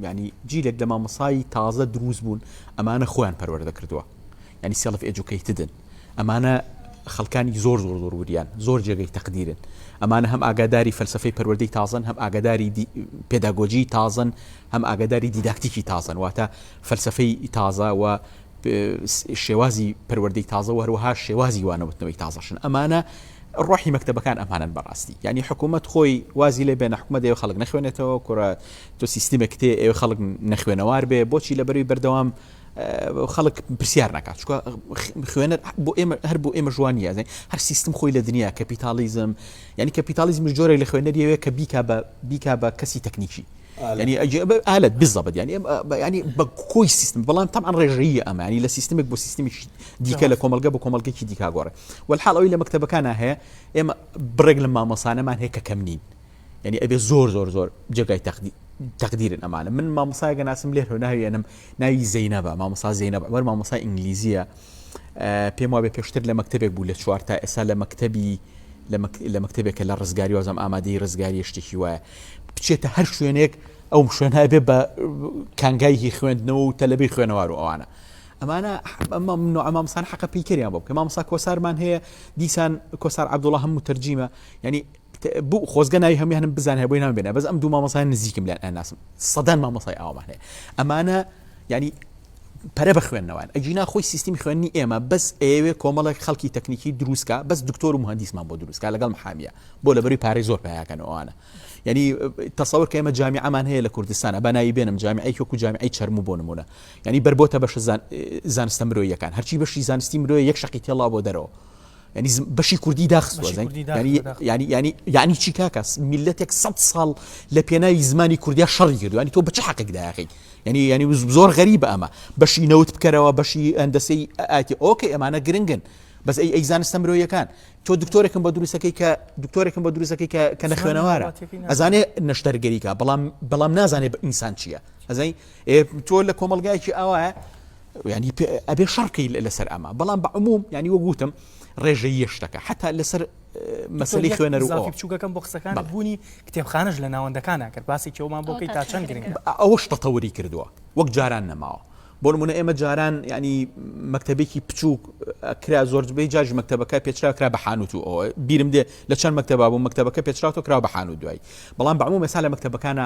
ینی جیلێک لە مامەسایی تازە دروست بوون ئەمانە خۆیان پەروەەردە کردووە ینی سێڵف ئەجوکەیتدن ئەمانە خەڵکانی زۆر زۆر زۆر وریان زۆر جێگەی تەقدیرن ئەمانە هەم ئاگاداری فەلسفەی پەروەردەی تازن هەم ئاگاداری پێداگۆجی تازن هەم ئاگاداری دیداکتیکی تازن واتە فەلسفەی تازە و شێوازی پەروەردەی تازە و هەروەها شێوازی وانەوتنەوەی تازەشن ئەمانە ڕۆحی مەکتتەبەکان ئەمانن بەڕاستی ینی حکوومەت خۆی وازی لێ بێنە حکومە دەێ خەڵک نەخوێنێتەوە کورە تۆ سیستمێک تێ ئێوە خەڵک نەخوێنەوار بێ بۆچی لە بەروی بەردەوام خەڵک پرسیار ناکات چکە خوێنەر بۆ ئێمە هەر بۆ ئێمە جوانی یازن هەر سیستم خۆی لە دنیا کەپیتالیزم ینی کەپیتالیزم جۆرە لە خوێنەریەوەیە کە بیکا بە بیکا بە کەسی تەکنیکی یانی ئەجێ ئالەت بزەبت یانی ینی بە کۆی سیستم بەڵام تەمان ڕێژەیە ئەمانی لە سیستمێک بۆ سیستمێکی دیکە لە کۆمەلگە بە کۆمەلگەکی دیکاگۆڕێ وەحاڵ ئەوی لە مەکتتەبەکان هەیە ئێمە بڕێک لە مامەسانەمان هەیە کە کەم نین یعنی ئەبێ زۆر زۆر زۆر جێگای تەقدی تقدیرن ئەمانە من مامۆسایگە ناسم لێ هەناویێنم ناوی زەینە بە مامۆسا زەینە بەوەەر مامۆسای ئینگلیزیە پێم وابێ پێشتر لە مەکتتەبێک بوو لە چوار تا ئێستا لە مەکتتەبی لە مەکتتەبێکە لە ڕزگاری وازم ئامادەی ڕزگاری شتێکی وایە بچێتە هەر شوێنێک ئەو شوێنای بێ بە کانگایهی خوێندنەوە و تەلەبی خوێنەوار و ئەوانە ئەمانە ئەمە من ئەمامسان حەقە پیکەریان بۆ بکە مامسا کۆسارمان هەیە دیسان کۆسار عبدوڵە هەموو تەرجیمە ینی بۆ خۆزگە ناوی هەمیانم بزانێ بۆی نام بێنە بەس ئەم دوو مامەسای نزیکم لەن ئەناسم سەدان مامەسای ئاوامان هەیە ئەمانە ینی پەرە بە خوێندنەوەن ئەگینا خۆی سیستمی خوێنی ئێمە بەس ئێوێ کۆمەڵێک خەڵکی تەکنیکی دروستکە بەس دکتۆر و مهندیسمان بۆ دروستکە لەگەڵ محامیە بۆ لەبەری پارەی زۆر پیاکەنەوەوانە یعنی تەسەور کە ئێمە جامیعمان هەیە لە کوردستانە بەناوی بێنم جامیعی وەکو جامیعی چەرمو بۆ نمونە ینی بربۆتە بەش زانستە مرۆیەکان هەرچی بەشی زانستی مرۆیە یەک شقی تێڵا بۆ دەرەوە یانی بەشی کوردی داخستوە یانی چی کاکە میلەتێک سە ساڵ لە پێناوی زمانی کوردیا شەڕی کردوانی تۆ بچ حەقێک داخی ینی ینی زۆر غەریب ئەمە بەشی نەوت بکەرەوە بەشی ئەندەسی ئاتی ئۆکەی ئەمانە گرنگن بەس ئەی ئەیزانستە مرۆیەکان تۆ دکتۆرێکم بە دروستەکەی کە دکتۆرێکم بە دروستەکەی کە لە خوێنەوارە ئەزانێ نەشتەرگەریکە بەڵام بەڵام نازانێت بە ئینسان چییە ئەزای تۆ لە کۆمەلگایکی ئاوایە یانی پێ ئەبێ شەڕ بکەی لەسەر ئەمە بەڵام بە عموم یانی وەک وتم ڕێژەیە شتەکە حتا لەسەر مەسلی خوێنەر و زافی بچووکەکەم بۆ قسەکان بوونی کتێبخانەش لە ناوەندەکان ناکرد باسی کێومان بۆ کەی تا چەند گرنگ ئەوە شتە تەوری کردووە وەک جاران نەماوە بۆ نمونە ئێمە جاران ینی مەکتتەبێکی بچووک کرا زۆربەی جاش مەکتتەبەکە پێچرا کرا بە حانوت و ئەوە بیرم دێ لە چەند مەکتتەبا بوو مەکتتەبەکە پێچراوە کرا بە حانوت دوای بەڵام بەمو مەسا لە مەکتتەبەکانە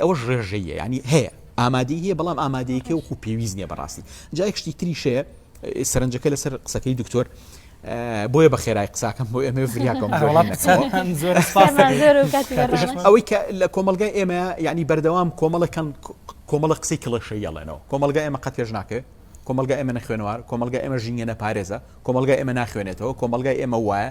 ئەوەش ڕێژەییە یانی هەیە ئامادەی هەیە بەڵام ئامادەیەکەی وەکو پێویست نیە بەڕاستی جایەک شتی تریشەیە سەرنجەکە لەسەر قسەکەی دکتۆر بۆیە بە خێرای قساکەم بۆ ئێمە فریاکەم ئەوەی کە لە کۆمەلگای ئێمە ینی بەردەوام کۆمەڵەکەن کۆمەڵە قسەی کڵەشە یاڵێنەوە کۆمەلگا ئێمە قەت پێش ناکەێ کۆمەلگا ئێمە نەخوێنوار کۆمەلگا ئێمە ژینگە نەپارێزە کۆمەلگا ئێمە ناخوێنێتەوە کۆمەلگای ئێمە وایە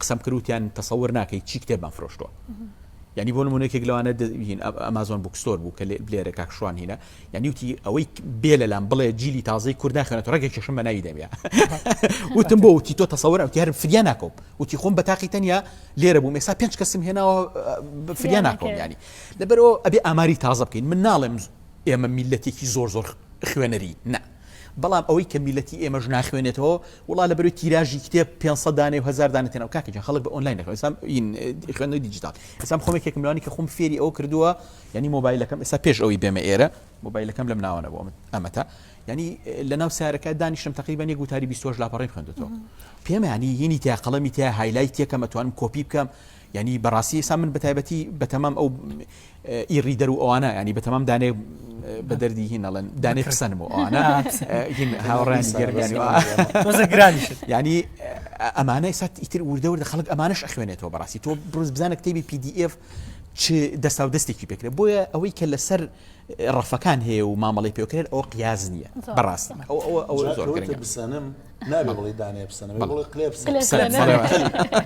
قسەم کرد وتیان تەسەور ناکەی چی کتێبمان فرۆشتووە یعنی بۆ نمونە یەکێک لەوانە ئەمازۆن بوکستۆر بوو کە بلێرە کاک شوان هینا یعنی وتی ئەوەی بێ لەلام بڵێ جیلی تازەی کورد ناخێنێت ڕێکی چشم بە ناوی دەمیا وتم بۆ وتی تۆ تەسەور ئەوتی هەرم فریا ناکۆم وتی خۆم بە تاقی تەنیا لێرە بووم ئێستا پێنج کەسم هێناوە فریا ناکۆم ینی لەبەرەوە ئەبێ ئاماری تازە بکەین من ناڵێم ئێمە میلەتێکی زۆر زۆر خوێنەری نه بەڵام ئەوەی کە میلەتی ئێمەش ناخوێنێتەوە وەڵا لەبەروی تیراژی کتێب پێنج سەد دانەیە و هەزار دانە تێناو کاکە گیان خەڵک بە ئۆنلاین دەخوێنێت ئێستا ین خوێندنەوەی دیجیتاڵ ئێستا من خۆم یەکێکم لەوانی کە خۆم فێری ئەوە کردووە یعنی مۆبایلەکەم ئێستا پێش ئەوەی بێمە ئێرە مۆبایلەکەم لەم ناوانە بۆ ئەمەتا یعنی لەناو سارەکە دانیشتم تقریبا یەک وتاری 28 لاپەڕیم خوێندوەوە پێمانی یینی تیا قەڵەمی تیا هایلای تێکەم ئەتوانم کۆپی بکەم یانی بەڕاستی ئیستا من بەتایبەتی بەتەمام ئەو ئی ڕیدەر و ئەوانە ینی بەتەمام دانێ بە دەردی هین ئەڵێن دانێ قسەنم و ئەوانە هاوڕانی گەرگانی ینی ئەمانە ئستا ئیتر وردەوردە خەڵک ئەمانش ئەخوێنێتەوە بەڕاستی تۆ بروز بزانە کتێبی PDF چ دەستا و دەستێکی پێکرێت بۆیە ئەوەی کە لەسەر ڕەفەکان هەیە و مامەڵی پێکرێت ئەو قیاز نییە بەڕاست ئەو ئەو زۆر بسانم نابێ بڵێی دانەیە پسەنە بێ بڵێ قلێ پسەنە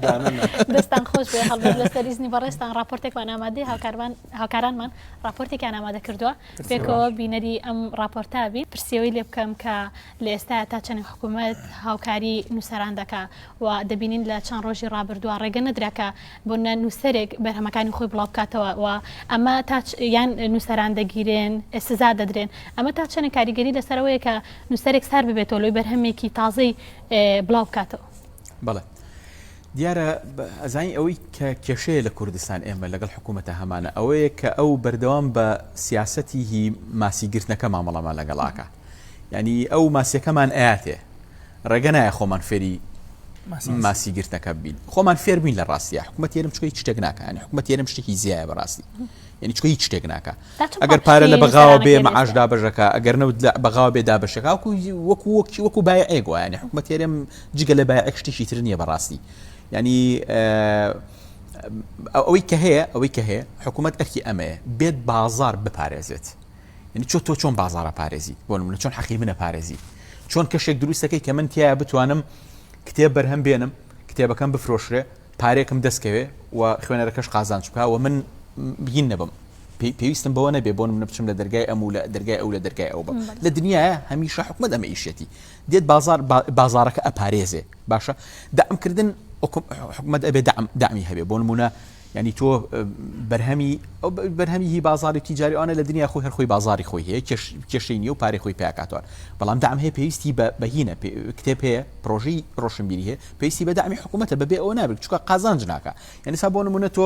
دانە نا. دەستتان خۆش بێ هەڵبەت لەسەر ئیزنی بەڕێزتان ڕاپۆرتێکمان ئامادەی هاوکاروان هاوکارانمان ڕاپۆرتێکیان ئامادە کردووە پێکەوە بینەری ئەم ڕاپۆرتا بین پرسیەوەی لێ بکەم کە لە ئێستا تا چەند حکوومەت هاوکاری نووسەران دەکا و دەبینین لە چەند ڕۆژی ڕابردووە ڕێگە نەدرا کە بۆ نە نووسەرێک بەرهەمەکانی خۆی بڵاو بکاتەوە و ئەمە تا یان نووسەران دەگیرێن سزا دەدرێن ئەمە تا چەنە کاریگەری لەسەرەوەیە کە نووسەرێک سار ببێتەوە لۆی بەرهەمێکی تازەی بڵاو بکاتەوە بڵێ دیارە ئەزانی ئەوەی کە کێشەیە لە کوردستان ئێمە لەگەڵ حکوومەتە هەمانە ئەوەیە کە ئەو بەردەوام بە سیاستی هی ماسیگرتنەکە مامەڵەمان لەگەڵاکە یانی ئەو ماسیەکەمان ئااتێ ڕێگە نایە خۆمان فێری ماسی گرتەکە بین خۆمان فێر بووین لە ڕاستە حکوومەت تێرم چکەی شتێک ناکەن حکوومەت تێرم شتێکی زیایە بەڕاستی یعنی چکە هیچ شتێک ناکە ئەگەر پارە لە بەغاوە بێ مەعاش دابژەکە ئەگەر نەوت بەغاوە بێ دابشەکە وەکو وەکو وەکی وەکو بای ئەگویان حکوومەت تێرم جگە لە بای شتێکی تر نییە بەڕاستی ینی ئەوەی کە هەیە ئەوەی کە هەیە حکوومەت ئەرکی ئەمەیە بێت بازار بپارێزێت یانی چۆ تۆ چۆن بازاڕە پارێزیت بۆ نمونە چۆن حەقی منە پارێزی چۆن کەشێک دروستەکەی کە من تیا بتوانم کتێب بەرهەم بێنم کتێبەکەم بفرۆشرێ پارێکم دەستکەوێ و خوێنەرەکەش قازان چکە و من بگین نەبم پێویستم بەوە نەبێ بۆن منە بچم لە دەرگای ئەم و لە دەرگای ئەو لە دەرگای ئەو بم لە دنیاە هەمیشە حکومت ئەمە ئیشێتی دێت بازار بازارەکە ئەپارێزێ باشە دامکردن حکومت ئەبێ دامی هەبێ بۆ نمونە یانی تۆ بەرهەمی ئەو بەرهەمی هی بازاری و تیجاری ئەوانە لە دنیا خۆی هەر خۆی بازاری خۆی هەیە کێش کێشەی نیە و پارەی خۆی پیاکاتوان بەڵام دام هەیە پێویستی بە بەهینە کتێب هەیە پرۆژی ڕۆشنبیری هەیە پێویستی بە دامی حکوومەتە بەبێ ئەوە نابێت چکە قازانج ناکە یعنی سا بۆ نمونە تۆ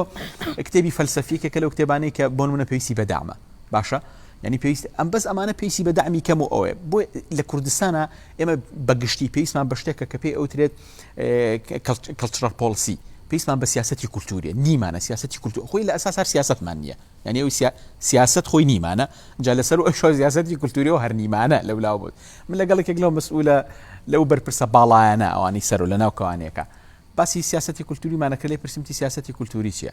کتێبی فەلسەفیکە کە لەو کتێبانەی کە بۆ نمونە پێویستی بە دامە باشە ینی پێویست ئەم بەس ئەمانە پێویستی بە دامی کەم و ئەوێ بۆ لە کوردستانە ئێمە بەگشتی پێویستمان بە شتێکە کە پێی ئەوترێت کلترال پۆلسی پێیسمان بە سیاستی کولتوریە نیمانە سیاستی کولتور خۆی لە ئەساس هەر سیاستمان نییە یعنی ئەو سیاست خۆی نیمانە جا لەسەر ئەو شۆ سیاستی کولتوری و هەرنیمانە لە ولاو بوت من لەگەڵ یەکێک لەو مسئولە لەو بەرپرسە باڵایەنە ئەوانی سەر و لە ناو کەوانەکە باسی سیاستی کولتوریمانەکە لێ پرسیمتی سیاستی کولتوری چیە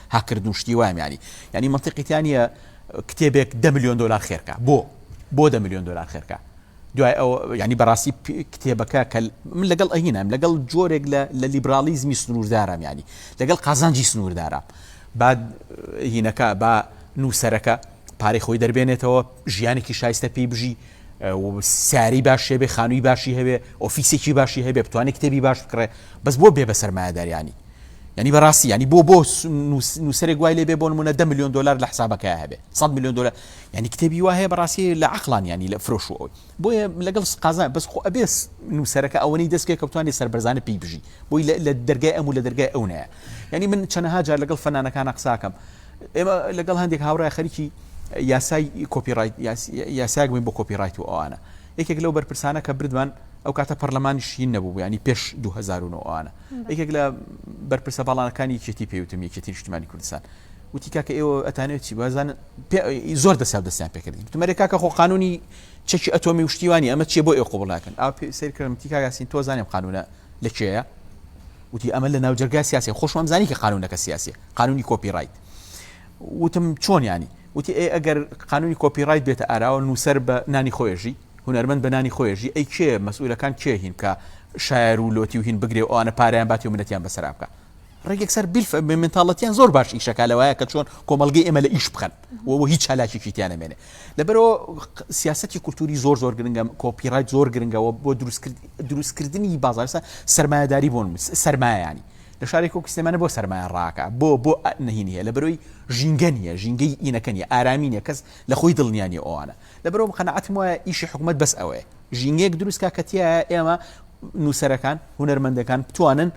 هاککرد و شتی وایم یانی یانی مەنتیقی تیا نییە کتێبێک دە ملیۆن دلار خێرکە بۆ بۆ دە ملیۆن دلار خێرکە دوای ئەو ینی بەڕاستی کتێبەکە کە من لەگەڵ ئەهینام لەگەڵ جۆرێک لە لە لیبرالیزمی سنووردارم ینی لەگەڵ قازانجی سنووردارە با هینەکە با نووسەرەکە پارەی خۆی دەربێنێتەوە ژیانێکی شایستە پێی بژی ساری باش هەبێ خانووی باشی هەبێ ئۆفیسێکی باشی هەبێ بتوانێت کتێبی باش بکڕێ بەس بۆ بێ بە سەرمایەداریانی ینی بەڕاستی ینی بۆ بۆ نووسەرێک گوای لێ بێ بۆ منە ده میلیۆن دلار لە حسابەکە هەبێ 100 میلیۆن دلار ینی کتێبی وایە بەڕاستی لە عقلان ینی لە فرۆش و ئەوی بۆیە لەگەڵ قازان بەس خۆ ئەبێس نووسەرەکە ئەوەی دەست پێ کەوتانی سەربەرزانە پێی بژی بۆی لە دەرگای ئەم و لە دەرگای ئەو نەیە ینی من چەنەها جار لەگەڵ فەنانەکانە قساکەم ئێمە لەگەڵ هەندێک هاوڕای خەریکی یاسای کۆپی ڕایت یاسایەک بووین بۆ کۆپی ڕایت و ئەوانە یەکێک لەو بەرپرسانە کە بردمان ئەو کاتە پەرلەمانی شین نەبوو ینی پێش 2009وانە یەکێک لە بەرپرسە باڵانەکانی یەکێتی پێوتم یەکێتی نیشتمانی کوردستان وتی کاکە ئێوە ئەتانێت چی بازان زۆر دەسا دەستیان پێکردین تمەرێک کاکە خۆ قانونی چەکی ئەتۆمی وشتیوانی ئەمە چیە بۆ ئێ قوبڵ ناکەن ئا سەرکردم تیکا یاسین تۆ زانیم قانونە لە کێە وتی ئەمە لە ناوجەرگای سیاسی خۆشمەمزانی کە قانونەکە سیاسیە قانونی کۆپی ڕایت وتم چۆن یانی وتی ئەی ئەگەر قانونی کۆپی ڕایت بێتە ئاراوە نووسەر بە نانی خۆێژی هونەرمەند بە نانی خۆێژی ئەی کێ مەسئولەکان کێ هین کە شاعر و لۆتی و هین بگرێ و ئەوانە پاریان باتی و منەتیان بەسەرا بکە ڕێگێک سەر بیلف منتاڵەتیان زۆر باش ئیشەکە لەوایە کە چۆن کۆمەلگەی ئێمە لە ئیش بخەن وەوە هیچ چالاکیی تیانەمێنێ لەبەرەوە سیاستی کولتوری زۆر زۆر گرنگە کۆپیڕای زۆر گرنگەوە بۆ دروستکرد دروستکردنی بازارسە سرمایهداری بۆن سرمایانی لە شارێک وەکو سلێمانی بۆ سەرمایە ڕاکە بۆ بۆ ئە نهی نیە لە بەرۆی ژینگە نیە ژینگەی ئینەکە نیە ئارامی نیە کەس لە خۆی دڵنیا نیە ئەوانە لە بەرۆم قەناعەتم وایە ئیشی حکومەت بەس ئەوەیە ژینگەیەک دروست کا کە تیایە ئێمە نووسەرەکان هونەرمەندەکان بتوانن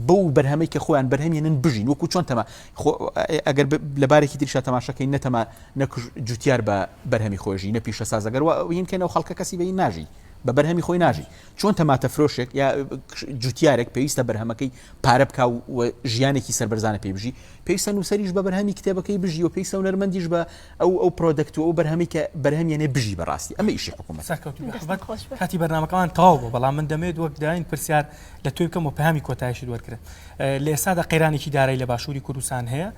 بەو بەرهەمەی کە خۆیان بەرهەمێنن بژین وەکو چۆن تەما ئەگەر لەبارێکی تریشا تەماشەکەی نەتەما نەکوش جوتیار بە بەرهەمی خۆشی نە پیشە سازەگەر وینکەنەوە خەڵکە کەسی بەی ناژی بە بەرهەمی خۆی ناژی چۆن تەماتەفرۆشێک یا جوتیارێک پێویستە بەرهەمەکەی پارە بک و ژیانێکی سربەرزانە پێ بژی پێویستە نووسریش بە بەرهەمی کتێبەکەی بژی و پێویستە و نەرمەندیش بە ئەو ئەو پرۆدەکت و ئەو بەرهەمی کە بەرهەمیێنێ بژی بەڕاستی ئەمە ئیشی حکوومەت کاتی بەرنمەکەمان تەواو بۆ بەڵام من دەمێت وەک داین پرسیار لە توی بکەم و پامی کۆتایشی وەرگرن لە ئێستادا قەیرانێکی دارای لە باشووری کوردستان هەیە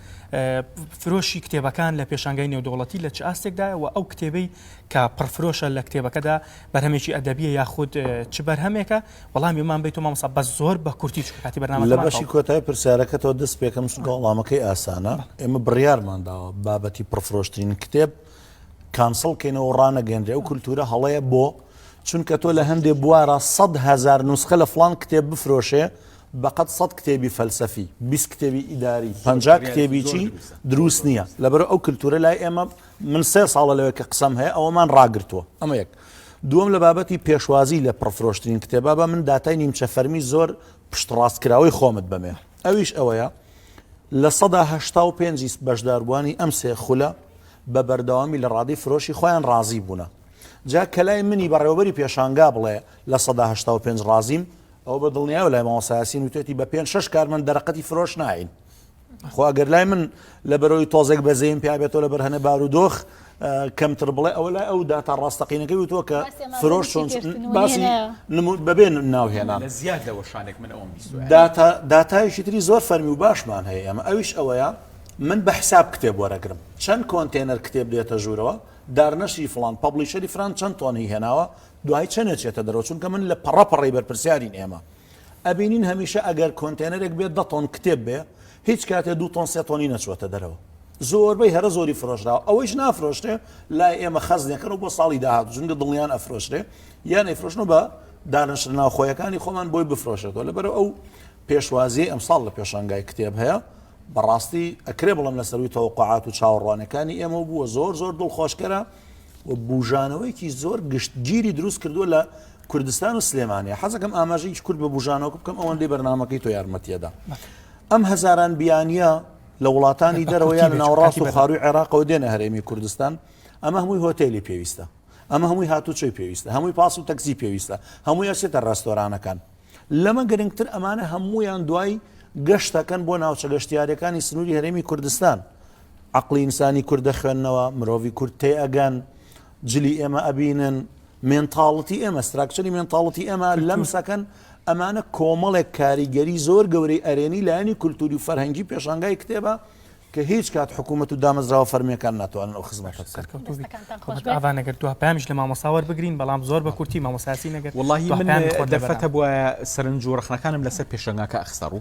فرۆشی کتێبەکان لە پێشانگای نێودوڵەتی لە چ ئاستێکدایەوە ئەو کتێبەی کە پڕفرۆشە لە کتێبەکەدا بەرهەمێکی ئەدەبیە یاخود چ بەرهەمێکە وەڵامی ومان بەیتۆ مامۆسا بەس زۆر بە کورتی چکە کاتی بەرنامە لە بەشی کۆتای پرسیارەکەتەوە دەست پێکەم چونکە وەڵامەکەی ئاسانە ئێمە بڕیارمان داوە بابەتی پڕفرۆشترین کتێب کانسڵ کەینەوە ڕانەگەێنرێ و کولتورە هەڵەیە بۆ چونکە تۆ لە هەندێ بوارە سە هزار نوسخە لە فلان کتێب بفرۆشێ بەقەت سە کتێبی فەلسەفی بیست کتێبی ئیداری پ کتێبیی دروست نییە لەبەر ئەو کللتورە لای ئێمە من سێ ساڵە لەوێ کە قسەم هەیە ئەوەمان ڕاگرتووە ئەمە یەک دووەم لە بابەتی پێشوازی لە پڕفرۆشترین کتێبا بە من داتای نیمچە فەرمی زۆر پشتڕاستکراوەی خۆمت بەمێ ئەویش ئەوەیە لە سەدا هەشتا و پێنجی بەشداربووانی ئەم سێ خولە بە بەردەوامی لە ڕادی فرۆشی خۆیان ڕازی بوونە جا کەلای منی بەڕێوەبەری پێشانگا بڵێ لە سەدا هەشتا و پێنج ڕازیم ئەو بە دڵنیاو لای ماوەسایسین وتێتی بە پێنج شش کارمەند دەرەقەتی فرۆش ناین خۆ ئەگەر لای من لە بەرەوەی تۆزێک بەزەیم پیابێتەوە لە بەرهەنە بارودۆخ کەمتر بڵێ ئەوە لای ئەو داتا ڕاستەقینەکەی وتووە کە فرۆش چۆن باسی بەبێن ناوهێنا لە زیاد لەوە شانێک من ئەوم داتایشی تری زۆر فەرمی و باشمان هەیە ئەمە ئەویش ئەوەیە من بە حساب کتێب وەرەگرم چەند کۆنتێنەر کتێب دێتە ژوورەوە دارنەشی فلان پبلیشەری فران چەند تۆنی هێناوە دوای چەندێ چێتە دەرەوە چونکە من لە پەڕەپەڕی بەرپرسیارین ئێمە ئەبینین هەمیشە ئەگەر کۆنتێنەرێک بێت دە تۆن کتێب بێ هیچ کاتێ دوو تۆن سێ تۆنی نەچووەتە دەرەوە زۆربەی هەرە زۆری فرۆشراوە ئەوەیش نافرۆشرێ لای ئێمە خەزنێکەکەن و بۆ ساڵی داهات جونگە دڵنیان ئەفرۆشرێ یان ئەیفرۆشنەوە بە دانەشر ناوخۆیەکانی خۆمان بۆی بفرۆشێتەوە لەبەرە ئەو پێشوازی ئەمساڵ لە پێشانگای کتێب هەیە بەڕاستی ئەکرێ بڵم لە سەروی تەوەقعات و چاوەڕوانەکانی ئێمە بووە زۆر زۆر دڵخۆشکەرە و بژانەوەیکی زۆر گشتگیری دروست کردووە لە کوردستان و سلێمانیە حەزەکەم ئاماژە هیچ کورد بە بژانەوە بکەم ئەوەندەی بەرنمەکەی تۆ یارمەتیەدا ئەم هەزاران بیانە لە وڵاتانی دەرەوە یان ناوەڕاست و خاروی عێراقەوە دێنە هەرێمی کوردستان ئەمە هەمووی هۆتێلی پێویستە ئەمە هەمووی هاتوچۆی پێویستە هەمووی پاس و تەکسی پێویستە هەمووی ئەسێتە ڕاستۆرانەکان لەمە گرنگتر ئەمانە هەمویان دوای گەشتەکەن بۆ ناوچە گەشتیارەکانی سنووری هەرێمی کوردستان عقلی ئینسانی کوردە خوێندنەوە مرۆڤی کورد تێ ئەگەن جلی ئێمە ئەبینن مێنتاڵتی ئێمە ستراکچری مێنتاڵتی ئێمە لەم سەکەن ئەمانە کۆمەڵێک کاریگەری زۆر گەورەی ئەرێنی لایەنی کولتوری و فەرهەنگی پێشانگای کتێبە کە هیچ کات حکوومەت و دامەزراوە فەرمیەکان ناتوانن ئەو خزمەت ئاوانەگەر دو پامیش لە مامۆساوەەر بگرین بەڵام زۆر بە کورتی مامۆساسی نەگەر وڵی من دەفەتە بواە سەرنج و ڕخنەکانم لەسەر پێشنگاکە ئەخسەڕ و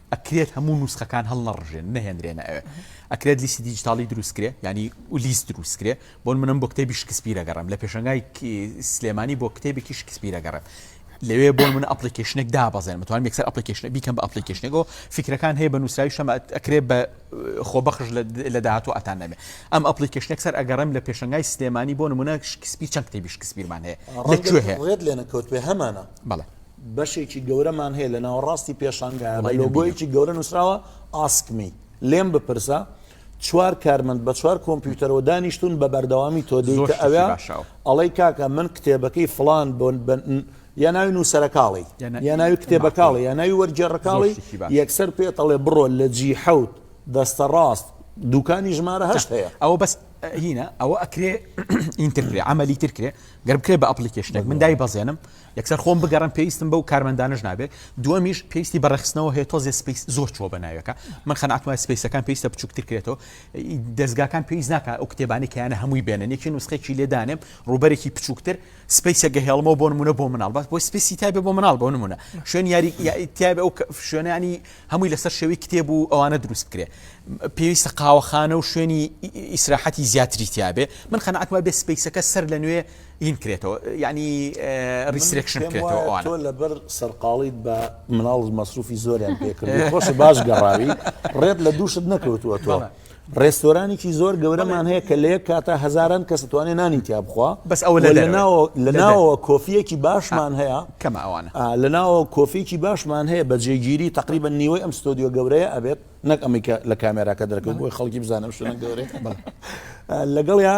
ئەکرێت هەموو نوسخەکان هەڵنەڕژێن نەهێنرێنە ئەوێ ئەکرێت لیستی دیجیتاڵی دروستکرێ ینی لیست دروستکرێ بۆن منم بۆ کتێبی شکسپیرە گەڕم لە پێشنگای سلێمانی بۆ کتێبێکی شکسپیرە گەڕێت لەوێ بۆ من ئەپلیکیشنێک دابەزێن متوان یەکسەر ئەپلیکیشن بیکەم بە ئەپلیکیشنێکەوە فکرەکان هەیە بە نووسراوی شەمە ئەکرێ بە خۆبەخش لە داهاتوو ئەتان نەبێ ئەم ئەپلیکیشنێک سەر ئەگەڕم لە پێشنگای سلێمانی بۆ نمونە شکسپی چەند کتێبی شکسپیرمان هەیە لەکوێ هەیە لێنەکەوت بێ هەمانە بەڵێ بەشێکی گەورەمان هەیە لە ناوەڕاستی پێشانگایە بە لۆگۆیەکی گەورە نووسراوە Ask me لێم بپرسە، چوار کارمەند بە چوار کۆمپیوتەرەوە دانیشتوون بە بەردەوامی تۆ دێی کە ئەوێ ئەڵەی کاکە من کتێبەکەی فڵان بۆن یا ناوی نووسەرەکاڵی یا ناوی کتێبەکاڵی یا ناوی وەرجێڕەکاڵی یەکسەر پێ تەڵێ بڕۆ لە جی حەوت دەستە ڕاست دوکانی ژمارە هەشت هەیە ئەوە بەس هینە ئەوە ئەکرێ ئینترکرێ ئەمەلی ترکرێ گەر بکرێ بە ئەپلیکیشنێک من دای بەزێنم یەکسەر خۆم بگەڕێم پێویستم بەو کارمەندانەش نابێت، دووەمیش پێویستی بە ڕێکخستنەوە هەیە تۆزێ سپەیس زۆر چووە بە ناوێکە، من قەناعەتم وایە سپەیسەکان پێویستە بچووکتر کرێتەوە، دەزگاکان پێویست ناکات ئەو کتێبانەی کە یانە هەمووی بێنن یەکی نوسخەیەکی لێ دانێم ڕووبەرێکی بچووکتر سپەیسێک گەهێڵمەوە بۆ نموونە بۆ مناڵ بەس بۆی سپیسی تابێ بۆ مناڵ بۆ نمونە شوێن یاری تابێ ئەو شوێنانی هەمووی لەسەر شێوی کتێب و ئەوانە دروست بکرێ پێویستە قاوەخانە و شوێنی ئیسراحەتی زیاتری تیاابێ من قەنعاتما بێ سپیسەکە سەر لە نوێ ین کرێتەوە یانی ریسرێکشن کرێتەوە ئەوانە. تۆ لەبەر سەرقاڵیت بە مناڵت مەسروفی زۆریان پێ کردووی خۆشە باش گەڕاوی ڕێت لە دووشت نەکەوتووە تۆ. ڕێستۆرانێکی زۆر گەورەمان هەیە کە لە یەک کاتە هەزاران کەس توانێت نانی تیا بخوا بەس ئەوە لە لەناوە لە ناوەوە کۆفیەکی باشمان هەیە کەمە ئەوانە آه، لە ناوەوە کۆفیەکی باشمان هەیە بە جێگیری تقریبا نیوەی ئەم ستۆدیۆ گەورەیە ئەبێت نەک ئەمیکە لە کامێراکە دەرکەوت بۆی خەڵکی بزانم شوێنە گەورەیە بەڵێ. آه، لەگەڵ یا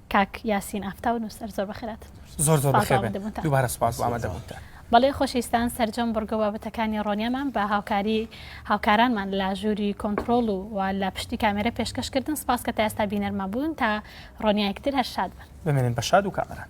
کاک یاسین ئافتاو نوسەر زۆر بەخێراتن. زۆر زۆر بەخێر بێن دووبارە سوپاس بۆ ئامادەبوونتان. بەڵێ خۆشەویستان سەرجەم بڕگە و بابەتەکانی ڕۆنیەمان بە هاوکاری هاوکارانمان لە ژووری کۆنتڕۆڵ و و لە پشتی کامێرە پێشکەش کردن سپاس کە تا ئێستا بینەرمان بوون تا ڕۆنیایەکی تر هەر شاد بن. بمێنن بە شاد و کامەران.